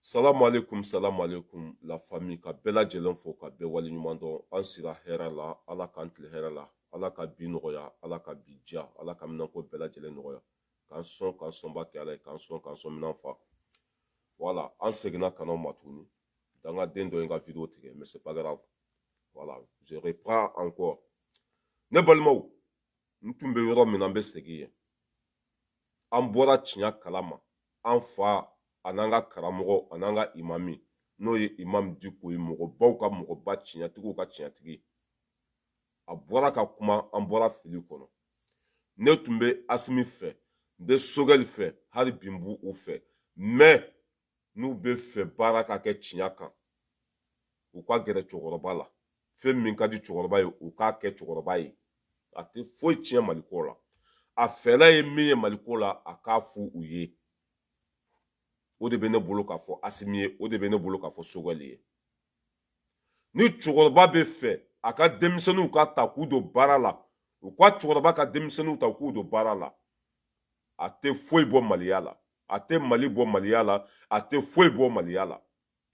salamu aleykum salamu aleykum la famille ka bɛɛ lajɛlen fo ka bɛɛ waleɲuman dɔn an sira hɛrɛ la ala k'an tile hɛrɛ la ala ka bi nɔgɔya ala ka bi diya ala ka minɛnko bɛɛ lajɛlen nɔgɔya k'an sɔn k'an sɔnba kɛ ala ye k'an sɔn k'an sɔn minɛn fa voilà an seginna ka n'aw ma tuguni dangaden dɔ ye n ka video tigɛ mais c'est pas grave voilà je reprends encore ne balimaw n tun bɛ yɔrɔ min na n bɛ segin yen an bɔra tiɲɛ kalama an fa an'an ka karamɔgɔ an'an ka imami n'o ye imam diko ye mɔgɔbaw ka mɔgɔba tiɲɛtigiw ka tiɲɛtigi a bɔra ka kuma an bɔra fili kɔnɔ ne tun bɛ asimi fɛ n bɛ sogɛli fɛ hali bi n b'u fɛ mais n'u bɛ fɛ baara ka kɛ tiɲa kan u ka gɛrɛ cɛkɔrɔba la fɛn min ka di cɛkɔrɔba ye u k'a kɛ cɛkɔrɔba ye a tɛ foyi tiɲɛ maliko la a fɛla ye min ye maliko la a k'a fɔ u ye o de bɛ ne bolo k'a fɔ asimi ye o de bɛ ne bolo k'a fɔ sogɛli ye ni cɛkɔrɔba bɛ fɛ a ka denmisɛnninw ka ta k'u don baara la u ka cɛkɔrɔba ka denmisɛnninw ta k'u don baara la a tɛ foyi bɔ maliya la a tɛ mali bɔ maliya la a tɛ foyi bɔ maliya la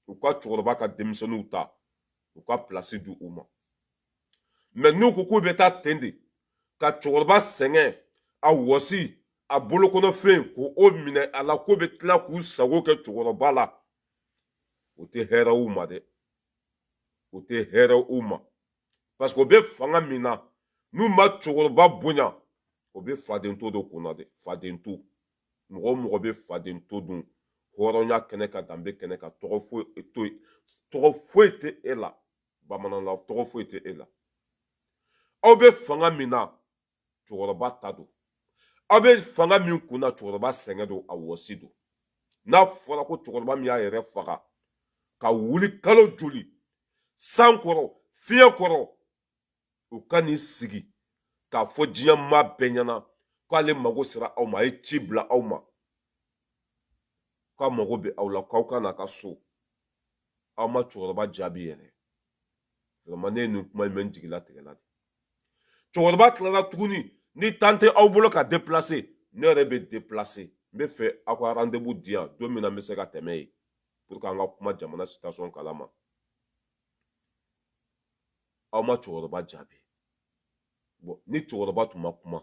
u ka cɛkɔrɔba ka denmisɛnninw ta u ka pilasi di u ma mais n'u ko k'u bɛ taa ten de ka cɛkɔrɔba sɛgɛn a wɔsi a bolokɔnɔfɛn k'o minɛ a la k'o bɛ tila k'u sago kɛ cɛkɔrɔba la o tɛ hɛrɛ u ma dɛ o tɛ hɛrɛ u ma parce que o bɛ fanga min na n'u ma cɛkɔrɔba bonya o bɛ faden to de kunna dɛ faden to mɔgɔ o mɔgɔ bɛ faden to dun hɔrɔnya kɛnɛ kan danbe kɛnɛ kan tɔgɔ foyi tɛ e la bamananna tɔgɔ foyi tɛ e la aw bɛ fanga min na cɛkɔrɔba ta don aw bɛ fanga min kun na cɛkɔrɔba sɛgɛn don a wɔsi don n'a fɔra ko cɛkɔrɔba min y'a yɛrɛ faga ka wuli kalo joli san kɔrɔ fiɲɛ kɔrɔ u ka n'i sigi k'a fɔ diɲɛ maa bɛɛ ɲɛna k'ale mago sera aw ma a ye ci bila aw ma k'a mago bɛ aw la k'aw ka n'a ka so aw ma cɛkɔrɔba jaabi yɛrɛ vraiment ne ye nin kuma in mɛn n jigilatigɛla de cɛkɔrɔba tilala tuguni ni temps tɛ aw bolo ka déplacer ne yɛrɛ bɛ déplacer n bɛ fɛ aw ka rendez-vous di yan don min na n bɛ se ka tɛmɛ yen pour que an ka kuma jamana situation kalama aw ma cɛkɔrɔba jaabi bon ni cɛkɔrɔba tun ma kuma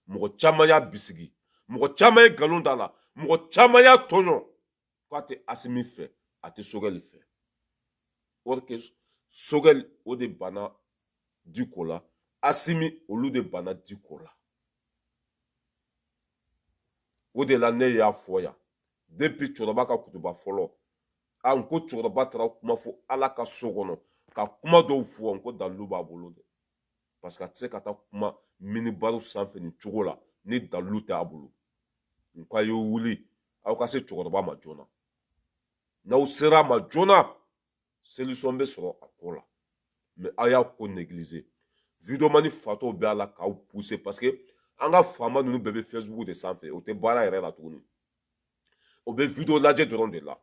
mɔgɔ caman y'a bisigi mɔgɔ caman ye nkalon da la mɔgɔ caman y'a tɔɲɔ k'a tɛ asimi fɛ a tɛ sogɛli fɛ or que sogɛli o de banna diko la asimi olu de banna diko la o de la ne y'a fɔ yan depuis cɛkɔrɔba ka kutuba fɔlɔ a n ko cɛkɔrɔba taara kuma fɔ ala ka so kɔnɔ ka kuma dɔw fɔ n ko dalilu b'a bolo dɛ parce que a tɛ se ka taa kuma minibari sanfɛ nin cogo la ni dalilu t'a bolo n ko a ye wuli aw ka se cɛkɔrɔba ma joona n'aw sera a ma joona solution bɛ sɔrɔ a ko la mais aw y'a ko négliger videomani fatɔw bɛ a la k'aw pousser parce que an ka faama ninnu bɛɛ bɛ facebook de sanfɛ o tɛ baara yɛrɛ la tuguni o bɛ video lajɛ dɔrɔn de la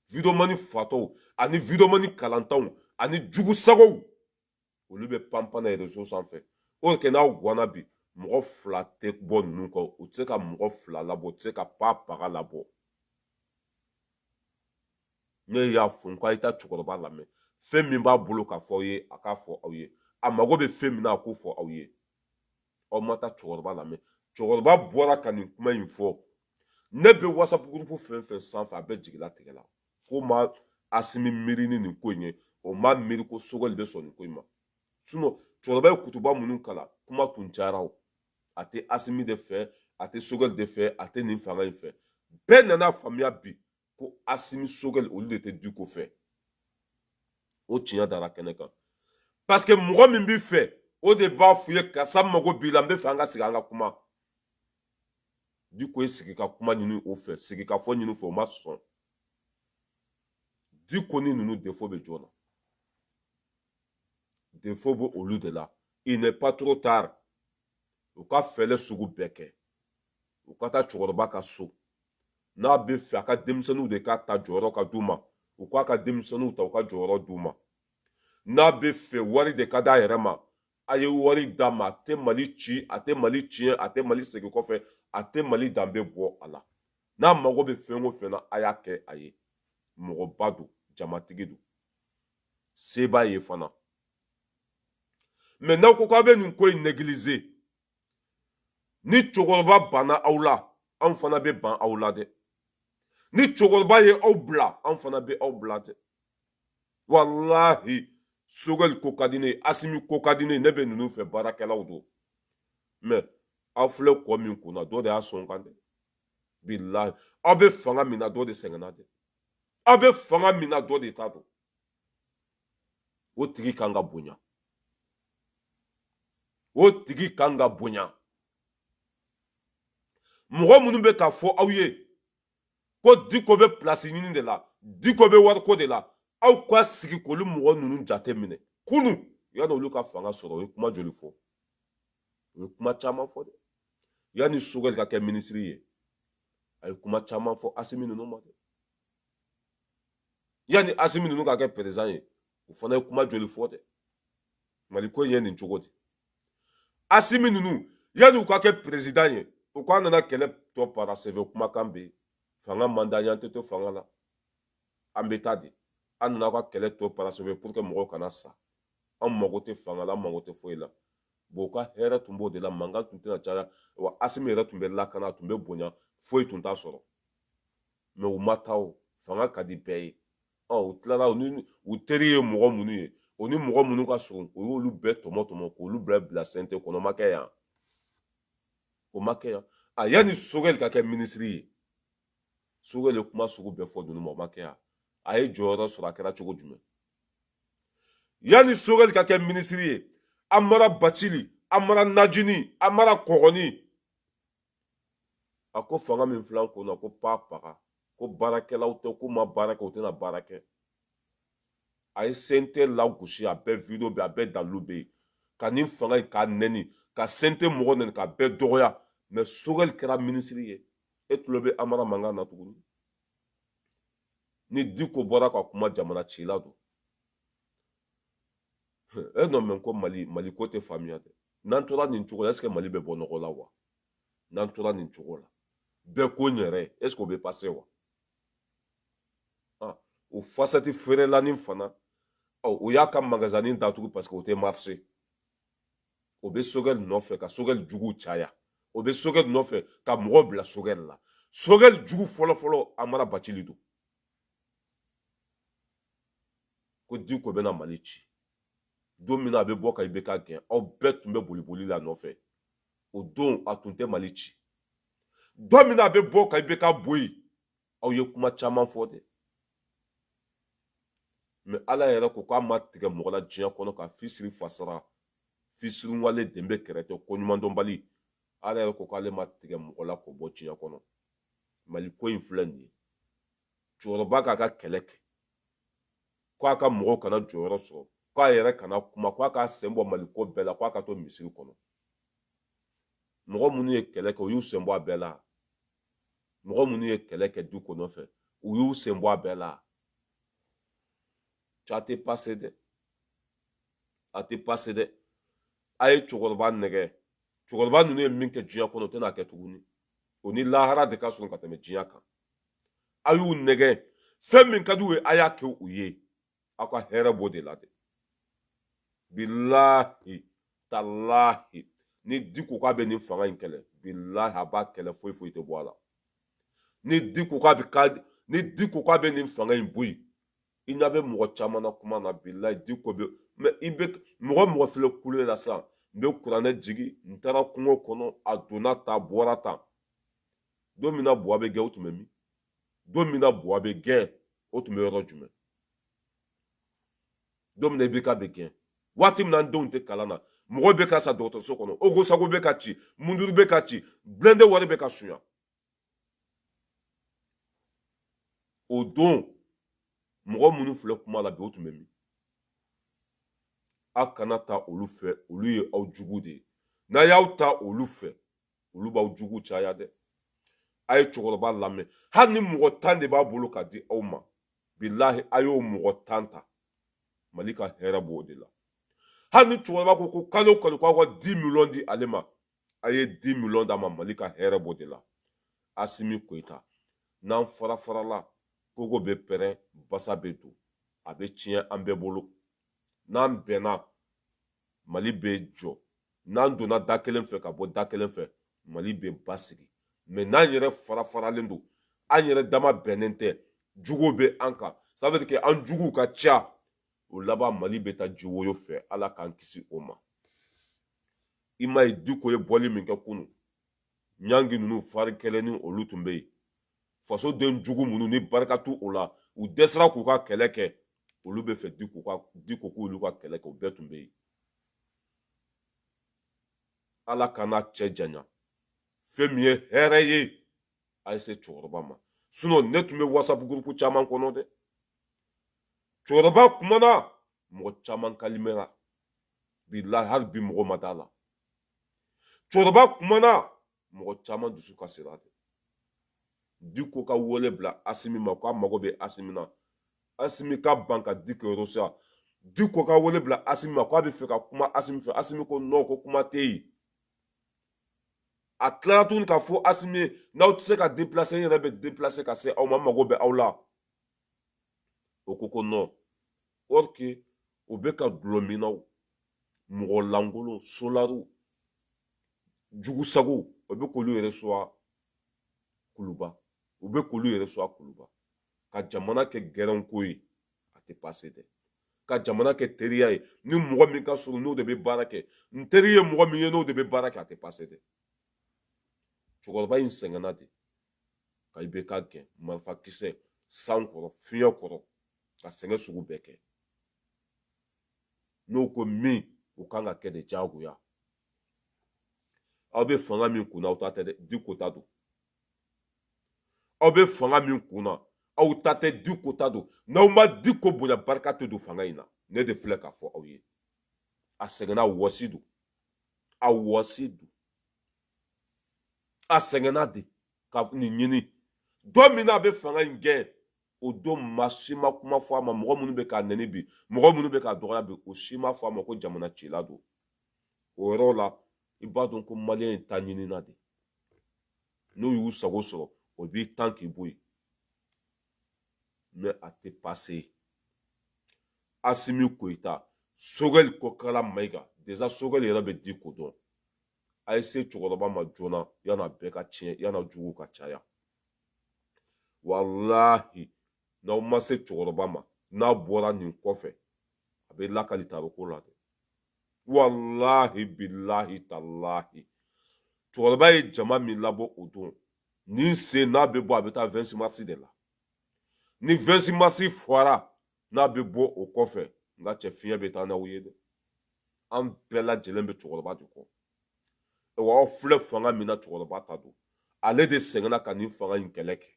videomani fatɔw ani videomani kalantanw ani jugusagow olu bɛ panpan na réseau sanfɛ o kɛ n'a gwanna bi mɔgɔ fila tɛ bɔ ninnu kɔ u tɛ se ka mɔgɔ fila labɔ u tɛ se ka pa paga labɔ ne y'a fɔ n ko a ye taa cɛkɔrɔba lamɛn fɛn min b'a bolo k'a fɔ aw ye a k'a fɔ aw ye a mago bɛ fɛn min na a k'o fɔ aw ye aw ma taa cɛkɔrɔba lamɛn cɛkɔrɔba bɔra ka nin kuma in fɔ ne bɛ whatsapp groupe fɛn fɛn sanfɛ a bɛɛ jigilatigɛla k'o ma asimi miiri ni nin ko in ye o ma miiri ko sogɛli bɛ sɔn nin ko in ma sinon cɛkɔrɔba ye kutuba minnu kalan kuma tun cayara o a tɛ asimi de fɛ a tɛ sogɛli de fɛ a tɛ nin fanga in fɛ bɛɛ nana faamuya bi ko asimi sogɛli olu de tɛ diko fɛ o tiɲɛ dara kɛnɛ kan parce que mɔgɔ min b'i fɛ o de b'a f'i ye karisa n mago b'i la n bɛ fɛ an ka sigi an ka kuma diko ye sigi ka kuma ɲini o fɛ sigi ka fɔ ɲini o fɛ o ma sɔn diko ni ninnu défaut bɛ jɔn na défaut bɛ olu de la il n'est pas trop tard u ka fɛɛlɛ sugu bɛɛ kɛ u ka taa cɛkɔrɔba ka so n'a bɛ fɛ a ka denmisɛnninw de ka ta jɔyɔrɔ ka d'u ma u k'a ka denmisɛnninw ta u ka jɔyɔrɔ d'u ma n'a bɛ fɛ wari de ka d'a yɛrɛ ma a ye wari d'a ma a tɛ mali ci a tɛ mali tiɲɛ a tɛ mali segin kɔfɛ a tɛ mali danbe bɔ a la n'a mago bɛ fɛn o fɛn na a y'a kɛ a ye mɔgɔba don jamatigi don se b'a ye fana mais n'aw ko k'aw bɛ nin ko in négliger ni cɛkɔrɔba banna aw la anw fana bɛ ban aw la dɛ ni cɛkɔrɔba ye aw bila anw fana bɛ aw bila dɛ walahi sogɛli ko ka di ne ye asimi ko ka di ne ye ne bɛ ninnu fɛ baarakɛlaw don mais aw filɛ kɔ min kunna dɔ de y'a sɔn kan dɛ bilahi aw bɛ fanga min na dɔ de sɛgɛnna dɛ aw bɛ fanga min na dɔ de t'a dɔn o tigi kan ka bonya o tigi kan ka bonya mɔgɔ minnu bɛ k'a fɔ aw ye ko diko bɛ pilasi ɲini de la diko bɛ wariko de la aw ka sigi k'olu mɔgɔ ninnu jate minɛ kunu yanni olu ka fanga sɔrɔ u ye kuma joli fɔ u ye kuma caman fɔ dɛ yanni sogɛli ka kɛ minisiri ye a ye kuma caman fɔ asimi ninnu ma dɛ yanni asimi ninnu ka kɛ président ye o fana ye kuma joli fɔ dɛ mali ko in ye nin cogo di asimi ninnu yanni u ka kɛ président ye u k'an nana kɛlɛ tɔ parachever kumakan bɛ yen fanga man d'an ye an tɛ to fanga la an bɛ taa dɛ an nana ka kɛlɛ tɔ parachever pour que mɔgɔw kana sa an mago tɛ fanga la an mago tɛ foyi la bon u ka hɛrɛ tun b'o de la mankan tun tɛna caya wa asimi yɛrɛ tun bɛ lakana a tun bɛ bonya foyi tun t'a sɔrɔ mais u ma taa o fanga ka di bɛɛ ye ɔ u tilala u ni u teri ye mɔgɔ minnu ye u ni mɔgɔ minnu ka surun u y'olu bɛɛ tɔmɔ tɔmɔ k'olu bila bila CNT kɔnɔ o ma kɛ yan o ma kɛ yan a yanni sogɛli ka kɛ minisiri ye sogɛli ye kuma sugu bɛɛ fɔ ninnu ma o ma kɛ yan a ye jɔyɔrɔ sɔrɔ a kɛra cogo jumɛn yanni sogɛli ka kɛ minisiri ye amara bacili amara najini amara kɔgɔni a ko fanga min filɛ an kun na ko pa paga ko baarakɛlaw tɛ k'u ma baara kɛ u tɛna baara kɛ a ye CNT lagosi a bɛɛ video bɛ a bɛɛ dalilu bɛ yen ka nin fanga in k'a nɛni ka CNT mɔgɔ nɛni k'a bɛɛ dɔgɔya mais sogɛli kɛra minisiri ye e tulo bɛ amara mankan na tuguni ni diko bɔra ka kuma jamana cila don e n'o mɛn ko mali mali ko tɛ faamuya dɛ n'an tora nin cogo la est ce que mali bɛ bɔ nɔgɔ la wa n'an tora nin cogo la bɛɛ ko n yɛrɛ est ce que o bɛ passer wa ah, o fasati feerelanin fana oh, o y'a ka magazanin datugu parce que o tɛ marcher o bɛ sogɛli nɔfɛ ka sogɛli juguw caya o bɛ sogɛli nɔfɛ ka mɔgɔ bila sogɛli la sogɛli jugu fɔlɔfɔlɔ amara bacili don ko diko bɛna mali ci don min na a bɛ bɔ ka IBK gɛn aw bɛɛ tun bɛ boliboli l'a nɔfɛ o don a tun tɛ mali ci don min na a bɛ bɔ ka IBK bɔ yen aw ye kuma caman fɔ dɛ mais ala yɛrɛ ko k'a ma tigɛ mɔgɔ la diɲɛ kɔnɔ ka fisiri fasara fisirinwale den bɛ kɛrɛtɛ koɲumandɔnbali ala yɛrɛ ko k'ale ma tigɛ mɔgɔ la k'o bɔ diɲɛ kɔnɔ mali ko in filɛ nin ye cɛkɔrɔba k'a ka kɛlɛ kɛ ko a ka mɔgɔw kana jɔyɔrɔ sɔrɔ ko a yɛrɛ kana kuma ko a k'a sen bɔ mali ko bɛɛ la ko a ka to misiri kɔnɔ mɔgɔ minnu ye kɛlɛ kɛ u y'u sen bɔ a bɛɛ la mɔgɔ minnu ye kɛlɛ kɛ diko nɔfɛ u y'u sen bɔ a bɛɛ la a tɛ pase dɛ a tɛ pase dɛ a ye cɛkɔrɔba nɛgɛ cɛkɔrɔba ninnu ye min kɛ diɲɛ kɔnɔ o tɛna kɛ tuguni o ni lahara de ka surun ka tɛmɛ diɲɛ kan a y'u nɛgɛ fɛn min ka d'u ye a y'a kɛ u ye aw ka hɛrɛ b'o de la dɛ bilahi talahi ni diko k'a bɛ nin fanga in kɛlɛ bilahi a b'a kɛlɛ foyi foyi tɛ bɔ a la ni diko k'a bɛ ka ni diko k'a bɛ nin fanga in bɔ yen i ɲɛ bɛ mɔgɔ caman na kuma na bilahi diko bɛ mais i bɛ mɔgɔ mɔgɔ filɛ kule la sisan n bɛ kuranɛ jigin n taara kungo kɔnɔ a donna tan a bɔra tan don min na buwa bɛ gɛn o tun bɛ min don min na buwa bɛ gɛn o tun bɛ yɔrɔ jumɛn don min na ibk bɛ gɛn waati min na an denw tɛ kalan na mɔgɔ bɛ ka sa dɔgɔtɔrɔso kɔnɔ ogosago bɛ ka ci munduru bɛ ka ci blindé wari bɛ ka sunya o don mɔgɔ minnu filɛ kuma la bi o tun bɛ min aw kana ta olu fɛ olu ye aw jugu de ye n'a y'aw ta olu fɛ olu b'aw jugu caya dɛ a ye cɛkɔrɔba lamɛn hali ni mɔgɔ tan de b'a bolo ka di aw ma bilahi a y'o mɔgɔ tan ta mali ka hɛrɛ b'o de la hali ni cɛkɔrɔba ko kalo o kalo k'aw ka dix millions di ale ma a ye dix millions d'a ma mali ka hɛrɛ b'o de la asimi koyita n'an fara farala kogo bɛ pɛrɛn basa bɛ don a bɛ tiɲɛ an bɛɛ bolo n'an bɛnna mali bɛ jɔ n'an donna da kelen fɛ ka bɔ da kelen fɛ mali bɛ basigi mais n'an yɛrɛ fara faralen don an yɛrɛ dama bɛnnen tɛ jugu bɛ an kan ça veut dire que an juguw ka ca o laban mali bɛ taa jiwoyo fɛ ala k'an kisi o ma i m'a ye diko ye bɔli min kɛ kunun ɲangi ninnu fari kɛlɛ ni olu tun bɛ yen fasoden jugu minnu ni barika t'u o la u dɛsɛra k'u ka kɛlɛ kɛ olu bɛ fɛ diko ka diko k'olu ka kɛlɛ kɛ o bɛɛ tun bɛ yen ala kana cɛ janya fɛn min ye hɛrɛ ye a ye se cɛkɔrɔba ma sinon ne tun bɛ whatsapp gurupu caman kɔnɔ dɛ cɛkɔrɔba kumana mɔgɔ caman kalimɛra bilahi hali bi mɔgɔ ma d'a la cɛkɔrɔba kumana mɔgɔ caman dusu kasira dɛ diko ka wele bila asimi ma k'a mago bɛ asimi na asimi ka ban ka diko reçoit diko ka wele bila asimi ma k'a bɛ fɛ ka kuma asimi fɛ asimi ko non ko kuma tɛ yen a tilara tuguni k'a fɔ asimi ye n'aw tɛ se ka deplase n yɛrɛ bɛ deplase ka se aw ma n mago bɛ aw la o ko ko non or que u bɛ ka dulɔminnaw mɔgɔ lankolon solariw jugusagow o bɛ k'olu reçoit kuluba u bɛ k'olu reçoit kuluba ka jamana kɛ gɛrɛnko ye a tɛ pase dɛ ka jamana kɛ teriya ye ni mɔgɔ min ka surun n'o de bɛ baara kɛ n teri ye mɔgɔ min ye n'o de bɛ baara kɛ a tɛ pase dɛ cɛkɔrɔba in sɛgɛnna de ka ibk gɛn marifakisɛ san kɔrɔ fiɲɛ kɔrɔ ka sɛgɛn sugu bɛɛ kɛ n'o ko min o kan ka kɛ de diyagoya aw bɛ fanga min kunna aw ta tɛ dɛ diko ta don aw bɛ fanga min kunna aw ta tɛ diko ta don n'aw ma diko bonya barika tɛ don fanga in na ne de filɛ k'a fɔ aw ye a sɛgɛnna a wɔsi don a wɔsi don a sɛgɛnna de ka nin ɲini don min na a bɛ fanga in gɛn o don maa si ma kuma fɔ a ma mɔgɔ minnu bɛ k'a nɛni bi mɔgɔ minnu bɛ k'a dɔgɔya bi o si ma fɔ a ma ko jamana cila don o yɔrɔ la i b'a dɔn ko maliyɛn ye ta ɲinina de n'u y'u sago sɔrɔ o b'i tan k'i bɔ yen mɛ a tɛ pase asimi goyita sogɛli kokala mayiga deza sogɛli yɛrɛ bɛ diko dɔn a ye se cɛkɔrɔba ma joona yan'a bɛɛ ka tiɲɛ yan'a jugu ka caya walahi n'aw ma se cɛkɔrɔba ma n'a bɔra nin kɔfɛ a bɛ lakali tariko la dɛ walahi bilahi talahi cɛkɔrɔba ye jama min labɔ o don nin sen n'a bɛ bɔ a bɛ taa 26 mars de la ni 26 mars fɔra n'a bɛ bɔ o kɔfɛ n ka cɛ fiɲɛ bɛ taa n'aw ye dɛ an bɛɛ lajɛlen bɛ cɛkɔrɔba de kɔ wa aw filɛ fanga min na cɛkɔrɔba ta don ale de sɛgɛnna ka nin fanga in kɛlɛ kɛ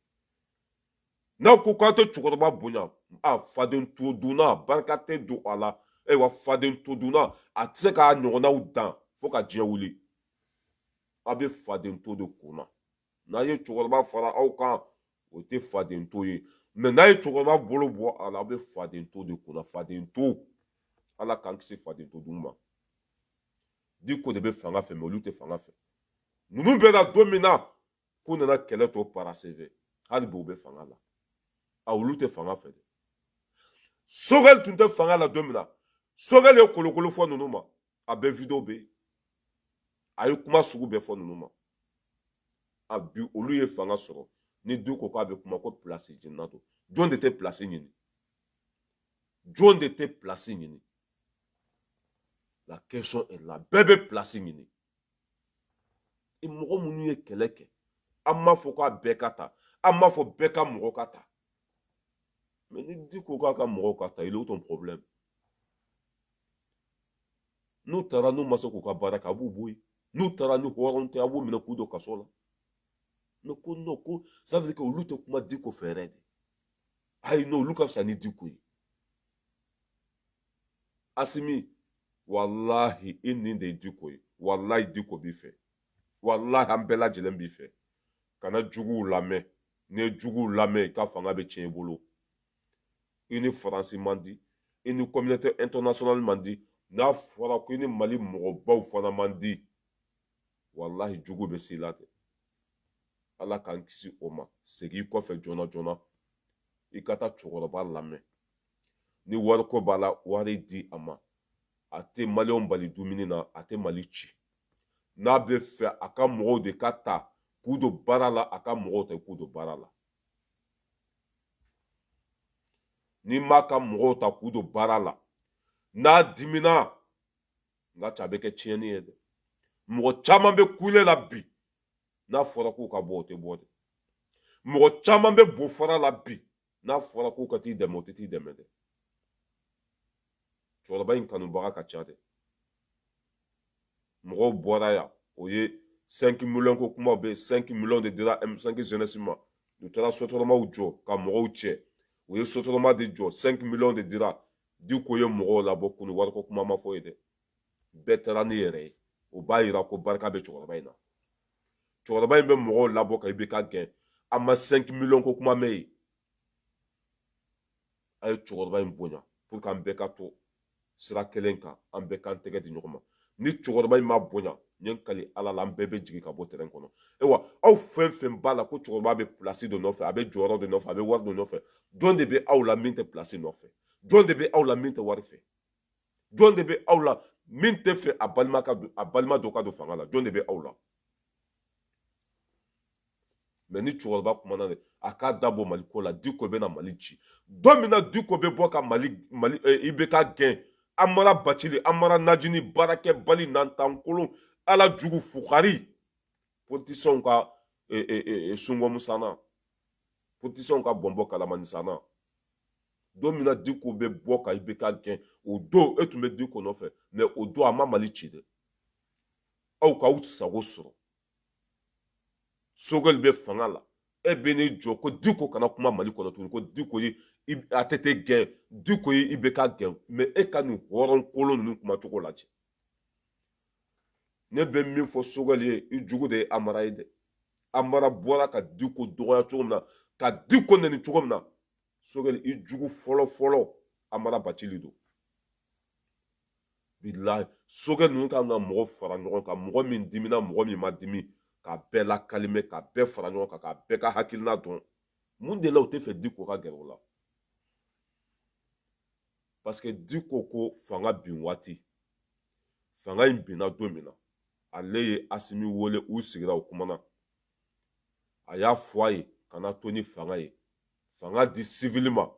n'aw ko k'aw tɛ cɛkɔrɔba bonya faden to dunna barika tɛ don a la ayiwa faden to dunna a tɛ se k'a ɲɔgɔnnaw dan fo ka diɲɛ wuli aw bɛ faden to de kunna n'a ye cɛkɔrɔba fara aw kan o tɛ faden to ye mɛ n'a ye cɛkɔrɔba bolo bɔ a la aw bɛ faden to de kunna faden to ala k'an kisi faden to dun ma diko de bɛ fanga fɛ mɛ olu tɛ fanga fɛ ninnu bɛ na don min na k'u nana kɛlɛ tɔ paraseve hali bi u bɛ fanga la a olu tɛ fanga fɛ dɛ sogɛli tun tɛ fanga la don min na sogɛli ye kolokolo fɔ ninnu ma a bɛɛ video bɛ yen a ye kuma sugu bɛɛ fɔ ninnu ma a bi olu ye fanga sɔrɔ ni diko k'a bɛ kuma ko pilasi ɲinina don jɔn de tɛ pilasi ɲini jɔn de tɛ pilasi ɲini la question est là bɛɛ bɛ pilasi ɲini mɔgɔ minnu ye kɛlɛ kɛ an m'a fɔ k'a bɛɛ ka ta an m'a fɔ bɛɛ ka mɔgɔ ka ta Mais ni diko k'a ka mɔgɔw ka ta il est où ton problème n'u taara n'u ma se k'u ka baara kɛ a b'u bɔ yen n'u taara ni hɔrɔn tɛ a b'u minɛ k'u don kaso la mais ko non ko ça veut dire que olu tɛ kuma diko fɛ yɛrɛ dɛ ayi non olu ka fisa ni diko ye asimi walahi i ɲin de ye diko ye walahi diko b'i fɛ walahi an bɛɛ lajɛlen b'i fɛ kana juguw lamɛn n'i ye juguw lamɛn i ka fanga bɛ tiɲɛ i bolo i ni faransi man di i ni communauté internationale man di n'a fɔra ko i ni mali mɔgɔbaw fana man di walahi jugu bɛ se i la ten ala k'an kisi o ma segin i kɔfɛ joona joona i ka taa cɛkɔrɔba lamɛn ni wariko b'a la wari di a ma a tɛ maliyɛnw bali dumuni na a tɛ mali ci n'a bɛ fɛ a ka mɔgɔw de ka ta k'u don baara la a ka mɔgɔw ta k'u don baara la n'i m'a ka mɔgɔw ta k'u don baara la n'a dimina nka ca a bɛ kɛ tiɲɛni ye dɛ mɔgɔ caman bɛ kule la bi n'a fɔra k'u ka bɔ o tɛ bɔ dɛ mɔgɔ caman bɛ bofara la bi n'a fɔra k'u ka t'i dɛmɛ u tɛ t'i dɛmɛ dɛ cɛkɔrɔba in kanubaga ka ca dɛ mɔgɔw bɔra yan o ye 5 miliyɔn ko kuma bɛ 5 miliyɔn de dira M5 jeunesse ma u taara sotaramaw jɔ ka mɔgɔw cɛ u ye sotarama de jɔ 5 miliyɔn de dira diko ye mɔgɔw labɔ kunu wariko kuma ma fɔ yen dɛ bɛɛ taara n'i yɛrɛ ye o b'a yira ko barika bɛ cɛkɔrɔba in na cɛkɔrɔba in bɛ mɔgɔw labɔ ka IBK gɛn a ma cinq miliyɔn ko kuma mɛn yen a ye cɛkɔrɔba in bonya pour que an bɛɛ ka to sira kelen kan an bɛɛ k'an tɛgɛ di ɲɔgɔn ma ni cɛkɔrɔba in ma bonya n ye n kali ala la an bɛɛ bɛ jigin ka bɔ tɛrɛn kɔnɔ ayiwa aw fɛn fɛn b'a la ko cɛkɔrɔba bɛ pilasi dɔ nɔfɛ a bɛ jɔyɔrɔ dɔ nɔfɛ a bɛ wari dɔ nɔfɛ jɔn de bɛ aw la min tɛ pilasi nɔfɛ jɔn de bɛ aw la min tɛ wari fɛ jɔn de bɛ aw la min tɛ fɛ a balima dɔ ka don fanga la jɔn de bɛ aw la mais ni cɛkɔrɔba kumana de a k'a da bɔ mali ko la diko bɛna mali ci don min na diko bɛ bɔ ka mali mali eh, IBK gɛn amara bacili amara najini baarakɛbali nantankolon ala jugu fugari politisiyɛnw ka e, e, e, sungɔmu sanna politisiyɛnw ka bɔnbɔ kalamani sanna don min na diko bɛ bɔ ka IBK gɛn o don e tun bɛ diko nɔfɛ mɛ o don a ma mali ci dɛ aw k'aw sago sɔrɔ sogɛli bɛ fanga la e bɛ n'i jɔ ko diko kana kuma mali kɔnɔ tuguni ko diko ye ATT gɛn diko ye IBK gɛn mɛ e ka nin hɔrɔn kolon ninnu kumacogo lajɛ ne bɛ min fɔ sogɛli ye i jugu de ye amara ye dɛ amara bɔra ka diko dɔgɔya cogo min na ka diko nɛni cogo min na sogɛli i jugu fɔlɔ fɔlɔ amara bacili don bilayi sogɛli ninnu kan ka mɔgɔ fara ɲɔgɔn kan mɔgɔ min dimina mɔgɔ min ma dimi ka bɛɛ lakalime ka bɛɛ fara ɲɔgɔn kan ka bɛɛ ka hakilina dɔn mun de la u tɛ fɛ diko ka gɛrɛ o la parce que diko ko fanga bin waati fanga in binna don min na ale ye asimi wele u sigira u kumana a y'a fɔ a ye kana to ni fanga ye fanga di sivili ma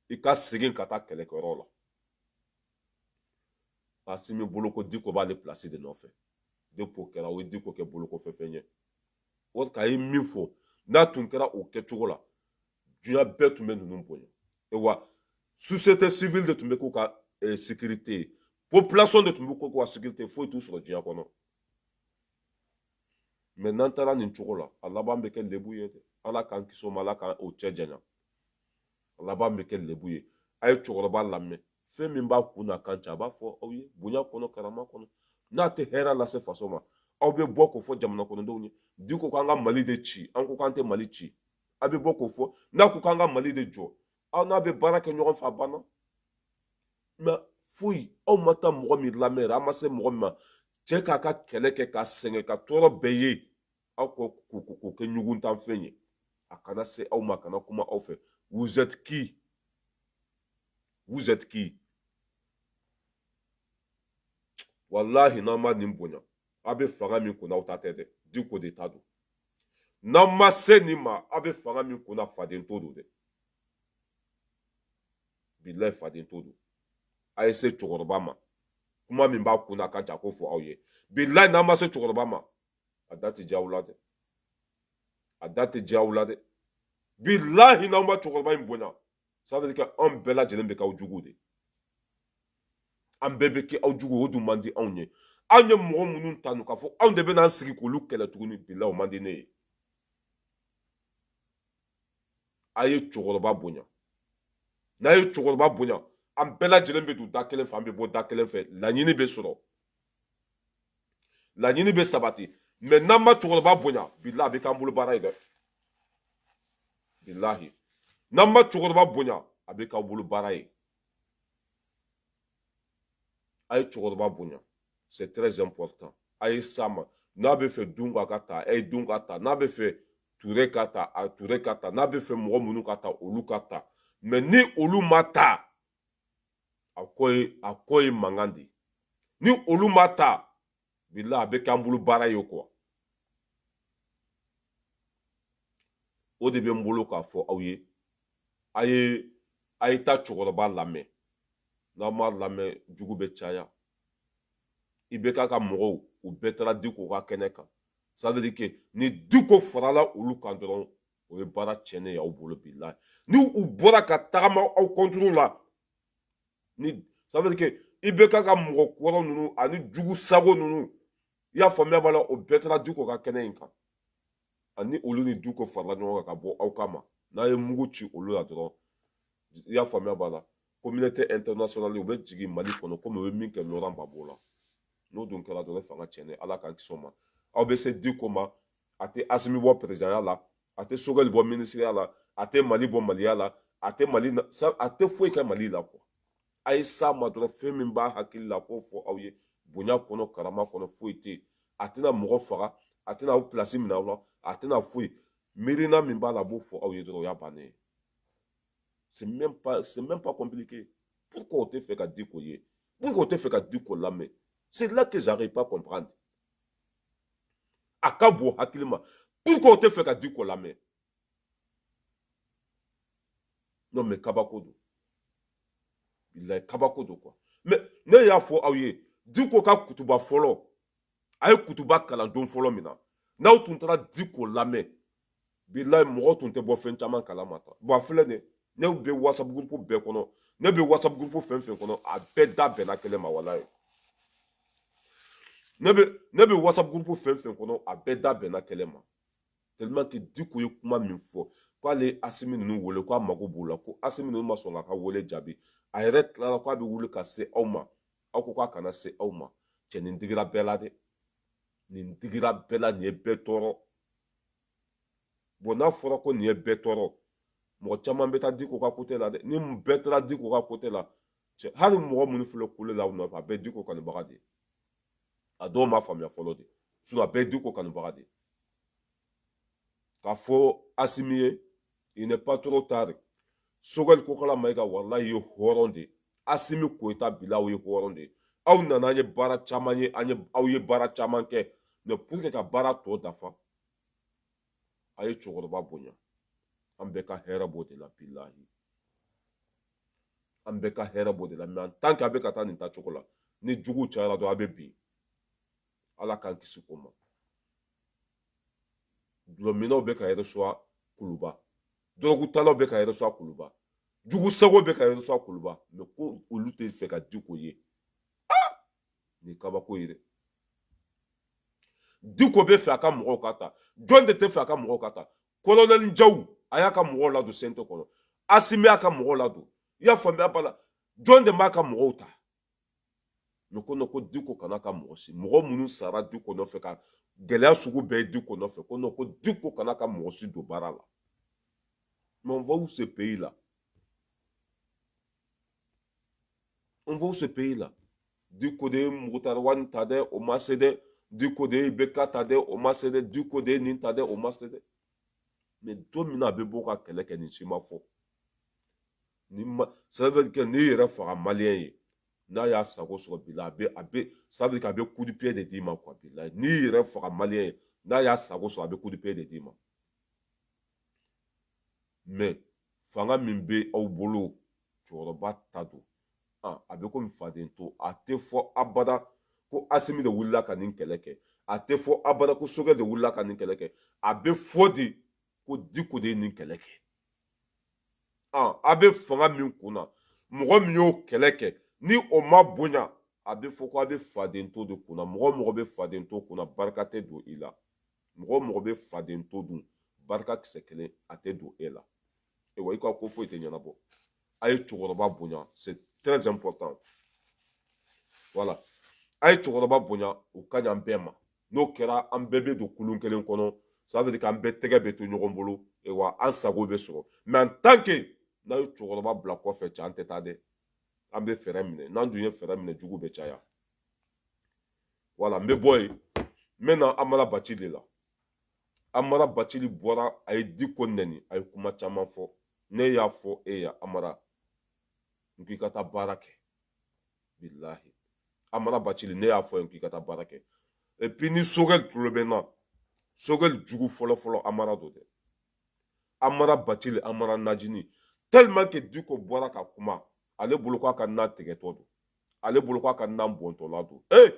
i ka segin ka taa kɛlɛkɛyɔrɔ la asimi bolo ko diko b'ale pilasi de nɔfɛ depuis o kɛra o ye diko kɛ bolokɔfɛfɛn ye nk'a ye min fɔ n'a tun kɛra o kɛcogo la duniya bɛɛ tun bɛ ninnu bonya wa sosiyete sivili de tun bɛ k'u ka eh, sekirite ye population de tun bɛ k'u ka sekirite foyi t'u sɔrɔ diɲɛ kɔnɔ mɛ n'an taara nin cogo la a laban bɛ kɛ lebu ye dɛ ala k'an kisi o ma ala k'an n'o cɛ janya a laban bɛ kɛ lebu ye a ye cɛkɔrɔba lamɛn fɛn min b'a kun n'a kan cɛ a b'a fɔ aw ye bonya kɔnɔ karama kɔnɔ n'a tɛ hɛrɛ lase faso ma aw bɛ bɔ k'o fɔ jamana kɔnɔdenw ye diko k'an ka mali de ci an ko k'an tɛ mali ci a bɛ bɔ k'o fɔ n'a ko k'an ka mali de jɔ aw n'a bɛ baara kɛ ɲɔgɔn fɛ a banna mɛ foyi aw ma taa mɔgɔ min lamɛn yɛrɛ an ma se mɔgɔ min ma cɛ k'a ka kɛlɛ kɛ ka sɛgɛn ka tɔɔrɔ bɛɛ ye aw ka k'o kɛ ɲuguntanfɛn ye a kana se aw ma a kana kuma aw fɛ vous êtes qui vous êtes qui walahi n'an ma nin bonya aw bɛ fanga min kunna aw ta tɛ dɛ diko de ta don n'aw ma se nin ma aw bɛ fanga min kunna faden to don dɛ bilayi faden to don a ye se cɛkɔrɔba ma kuma min b'a kun n'a kan cɛ a k'o fɔ aw ye bilayi n'an ma se cɛkɔrɔba ma a da tɛ diya aw la dɛ a da tɛ diya aw la dɛ bilahi n'aw ma cɛkɔrɔba in bonya ça veut dire que anw bɛɛ lajɛlen bɛ k'aw jugu de an bɛɛ bɛ kɛ aw jugu o dun man di anw ye anw ye mɔgɔ minnu tanu k'a fɔ anw de bɛ n'an sigi k'olu kɛlɛ tuguni bilayi o man di ne ye a ye cɛkɔrɔba bonya n'a ye cɛkɔrɔba bonya an bɛɛ lajɛlen bɛ don da kelen fɛ an bɛ bɔ da kelen fɛ laɲini bɛ sɔrɔ laɲini bɛ sabati mais n'an ma cɛkɔrɔba bonya bilahi a bɛ k'an bolo baara ye dɛ bilahi n'an ma cɛkɔrɔba bonya a bɛ k'aw bolo baara ye a ye cɛkɔrɔba bonya c'est très important a ye s'a ma n'a bɛ fɛ dunga ka ta a ye dunga ta n'a bɛ fɛ ture ka ta a ture ka ta n'a bɛ fɛ mɔgɔ minnu ka ta olu ka ta mais ni olu ma ta a ko ye a ko ye mankan de ni olu ma ta bila a bɛ k'an bolo baara ye quoi o de bɛ n bolo k'a fɔ aw ye a ye a ye taa cɛkɔrɔba lamɛn n'aw m'a lamɛn jugu bɛ caya ibeka ka mɔgɔw u bɛɛ taara diko ka kɛnɛ kan ça veut dire que ni diko farala olu kan dɔrɔn o ye baara tiɲɛnen y'aw bolo bilahi ni u bɔra ka tagama aw contre la ni ça veut dire que ibeka ka mɔgɔ kɔrɔ ninnu ani jugu sago ninnu i y'a faamuya b'a la o bɛɛ taara diko ka kɛnɛ in kan ani olu ni diko farala ɲɔgɔn kan ka bɔ aw kama n'a ye mugu ci olu la dɔrɔn i y'a faamuya b'a la communauté internationale u bɛ jigin mali kɔnɔ komi u ye min kɛ laurent gbagbo la n'o dun kɛra dɔrɔn ne fanga tiɲɛnen ala k'an kisi o ma aw bɛ se diko ma a tɛ asimi bɔ perezidanya la a tɛ sogɛli bɔ minisiriya la a tɛ mali bɔ maliya la a tɛ mali a tɛ foyi kɛ mali la quoi a ye s'a ma dɔrɔn fɛn min b'a hakili la k'o fɔ aw ye bonya kɔnɔ karama kɔnɔ foyi tɛ yen a tɛna mɔgɔ faga a tɛna aw pilasi minɛ aw la a tɛna foyi miirina min b'a la a b'o fɔ aw ye dɔrɔn o y'a bannen ye c'est même pas c'est même pas compliqué pourquoi o tɛ fɛ ka diko ye pourquoi o tɛ fɛ ka diko lamɛn c'est là que j'arrive pas comprendre a ka bon hakili ma pourquoi o tɛ fɛ ka diko lamɛn non mais kabako don bilayi kabako don quoi mais ne y'a fɔ aw ye diko ka kutuba fɔlɔ a ye kutuba kalan don fɔlɔ min na n'aw tun taara diko lamɛn bilayi mɔgɔ tun tɛ bɔ fɛn caman kalama ta bon a filɛ nin ne bɛ whatsapp groupe bɛɛ kɔnɔ ne bɛ whatsapp groupe fɛn fɛn kɔnɔ a bɛɛ da bɛnna kelen ma walayi ne bɛ ne bɛ whatsapp groupe fɛn fɛn kɔnɔ a bɛɛ da bɛnna kelen ma tellement que diko ye kuma min fɔ k'ale asimi ninnu wele k'a mago b'u la ko asimi ninnu ma sɔn k'a ka wele jaabi a yɛrɛ tilala k'a bɛ wuli ka se aw ma aw ko k'a kana se aw ma cɛ nin digira bɛɛ la dɛ nin digira bɛɛ la nin ye bɛɛ tɔɔrɔ bon n'a fɔra ko nin ye bɛɛ tɔɔrɔ mɔgɔ caman bɛ taa diko ka côté la dɛ ni bɛɛ taara diko ka côté la cɛ hali mɔgɔ minnu filɛ kule la u nɔfɛ a bɛɛ diko kanubaga de a dɔw m'a faamuya fɔlɔ de sinon a bɛɛ diko kanubaga de k'a fɔ asimi ye il n'est pas trop tard sogɛli kokala mayiga walayi ye hɔrɔn de asimi koyita bilahi ye hɔrɔn de aw nana an ye baara caman ye an ye aw ye baara caman kɛ mais pour que ka baara tɔ dafa a ye cɛkɔrɔba bonya an bɛɛ ka hɛrɛ b'o de la bilahi an bɛɛ ka hɛrɛ b'o de la mais en tant que a bɛ ka taa nin taa cogo la ni juguw cayara dɔrɔn a bɛ bin ala k'an kisi o ma dulɔminnaw bɛ ka reçoit kuluba dɔrɔgutalaw bɛ ka reçoit kuluba jugu sago bɛ ka reçoit kuluba mais ko olu tɛ fɛ ka diko ye ah! nin kabako ye dɛ diko bɛ fɛ a ka mɔgɔw ka ta jɔn de tɛ fɛ a ka mɔgɔw ka ta kolonɛli jaw a y'a ka mɔgɔw ladon CNT kɔnɔ asimi y'a ka mɔgɔw ladon i y'a faamuya b'a la jɔn de b'a ka mɔgɔw ta ko non ko diko kan'a ka mɔgɔ si mɔgɔ minnu sara diko nɔfɛ ka gɛlɛya sugu bɛɛ ye diko nɔfɛ ko non ko diko kan'a ka mɔgɔ si don baara la mais on va où ce pays là on va où ce pays là diko de ye mukutari wani ta dɛ o ma se dɛ diko de ye IBK ta dɛ o ma se dɛ diko de ye nin ta dɛ o ma se dɛ mais don min na a bɛ bɔ ka kɛlɛ kɛ nin si ma fɔ ni ma ça veut dire n'i yɛrɛ faga maliyɛn ye n'a y'a sago sɔrɔ bi la a bɛ a bɛ ça veut dire a bɛ coup de pied de d'i ma quoi bilahi n'i yɛrɛ faga maliyɛn ye n'a y'a sago sɔrɔ a bɛ coup de pied de d'i ma mais fanga min bɛ aw bolo cɛkɔrɔba ta don ah, a bɛ komi faden to a tɛ fɔ abada ko asimi de wulila ka nin kɛlɛ kɛ a tɛ fɔ abada ko sogɛli de wulila ka nin kɛlɛ kɛ a bɛ fɔ de ko diko de ye nin kɛlɛ kɛ a bɛ fanga min kunna mɔgɔ min y'o kɛlɛ kɛ ni o ma bonya a bɛ fɔ ko a bɛ faden to de kunna mɔgɔ o mɔgɔ bɛ faden to kunna barika tɛ don i la mɔgɔ o mɔgɔ bɛ faden to dun barika kisɛ kelen a tɛ don e la ayiwa i ka ko foyi tɛ ɲɛnabɔ a ye cɛkɔrɔba bonya c'est très important voilà a ye cɛkɔrɔba bonya o ka ɲi an bɛɛ ma n'o kɛra an bɛɛ bɛ don kulun kelen kɔnɔ ça veut dire k'an bɛɛ tɛgɛ bɛ to ɲɔgɔn bolo wa an sago bɛ sɔrɔ mais en tant que n'a ye cɛkɔrɔba bila kɔfɛ cɛ an tɛ taa dɛ an bɛ frein minɛ n'an dun ye frein minɛ jugu bɛ caya voilà n bɛ bɔ yen n bɛ na amara bacili de la amara bacili bɔra a ye diko nɛni a ye kuma caman fɔ ne y'a fɔ e ye amara n k'i ka taa baara kɛ bilahi amara bacili ne y'a fɔ n k'i ka taa baara kɛ et puis ni sogɛli tulo bɛ n na sogɛli jugu fɔlɔfɔlɔ amara don dɛ amara bacili amara najini tellement que diko bɔra ka kuma ale bolo k'a ka na tigɛtɔ don ale bolo k'a ka na bɔntɔla don ee eh!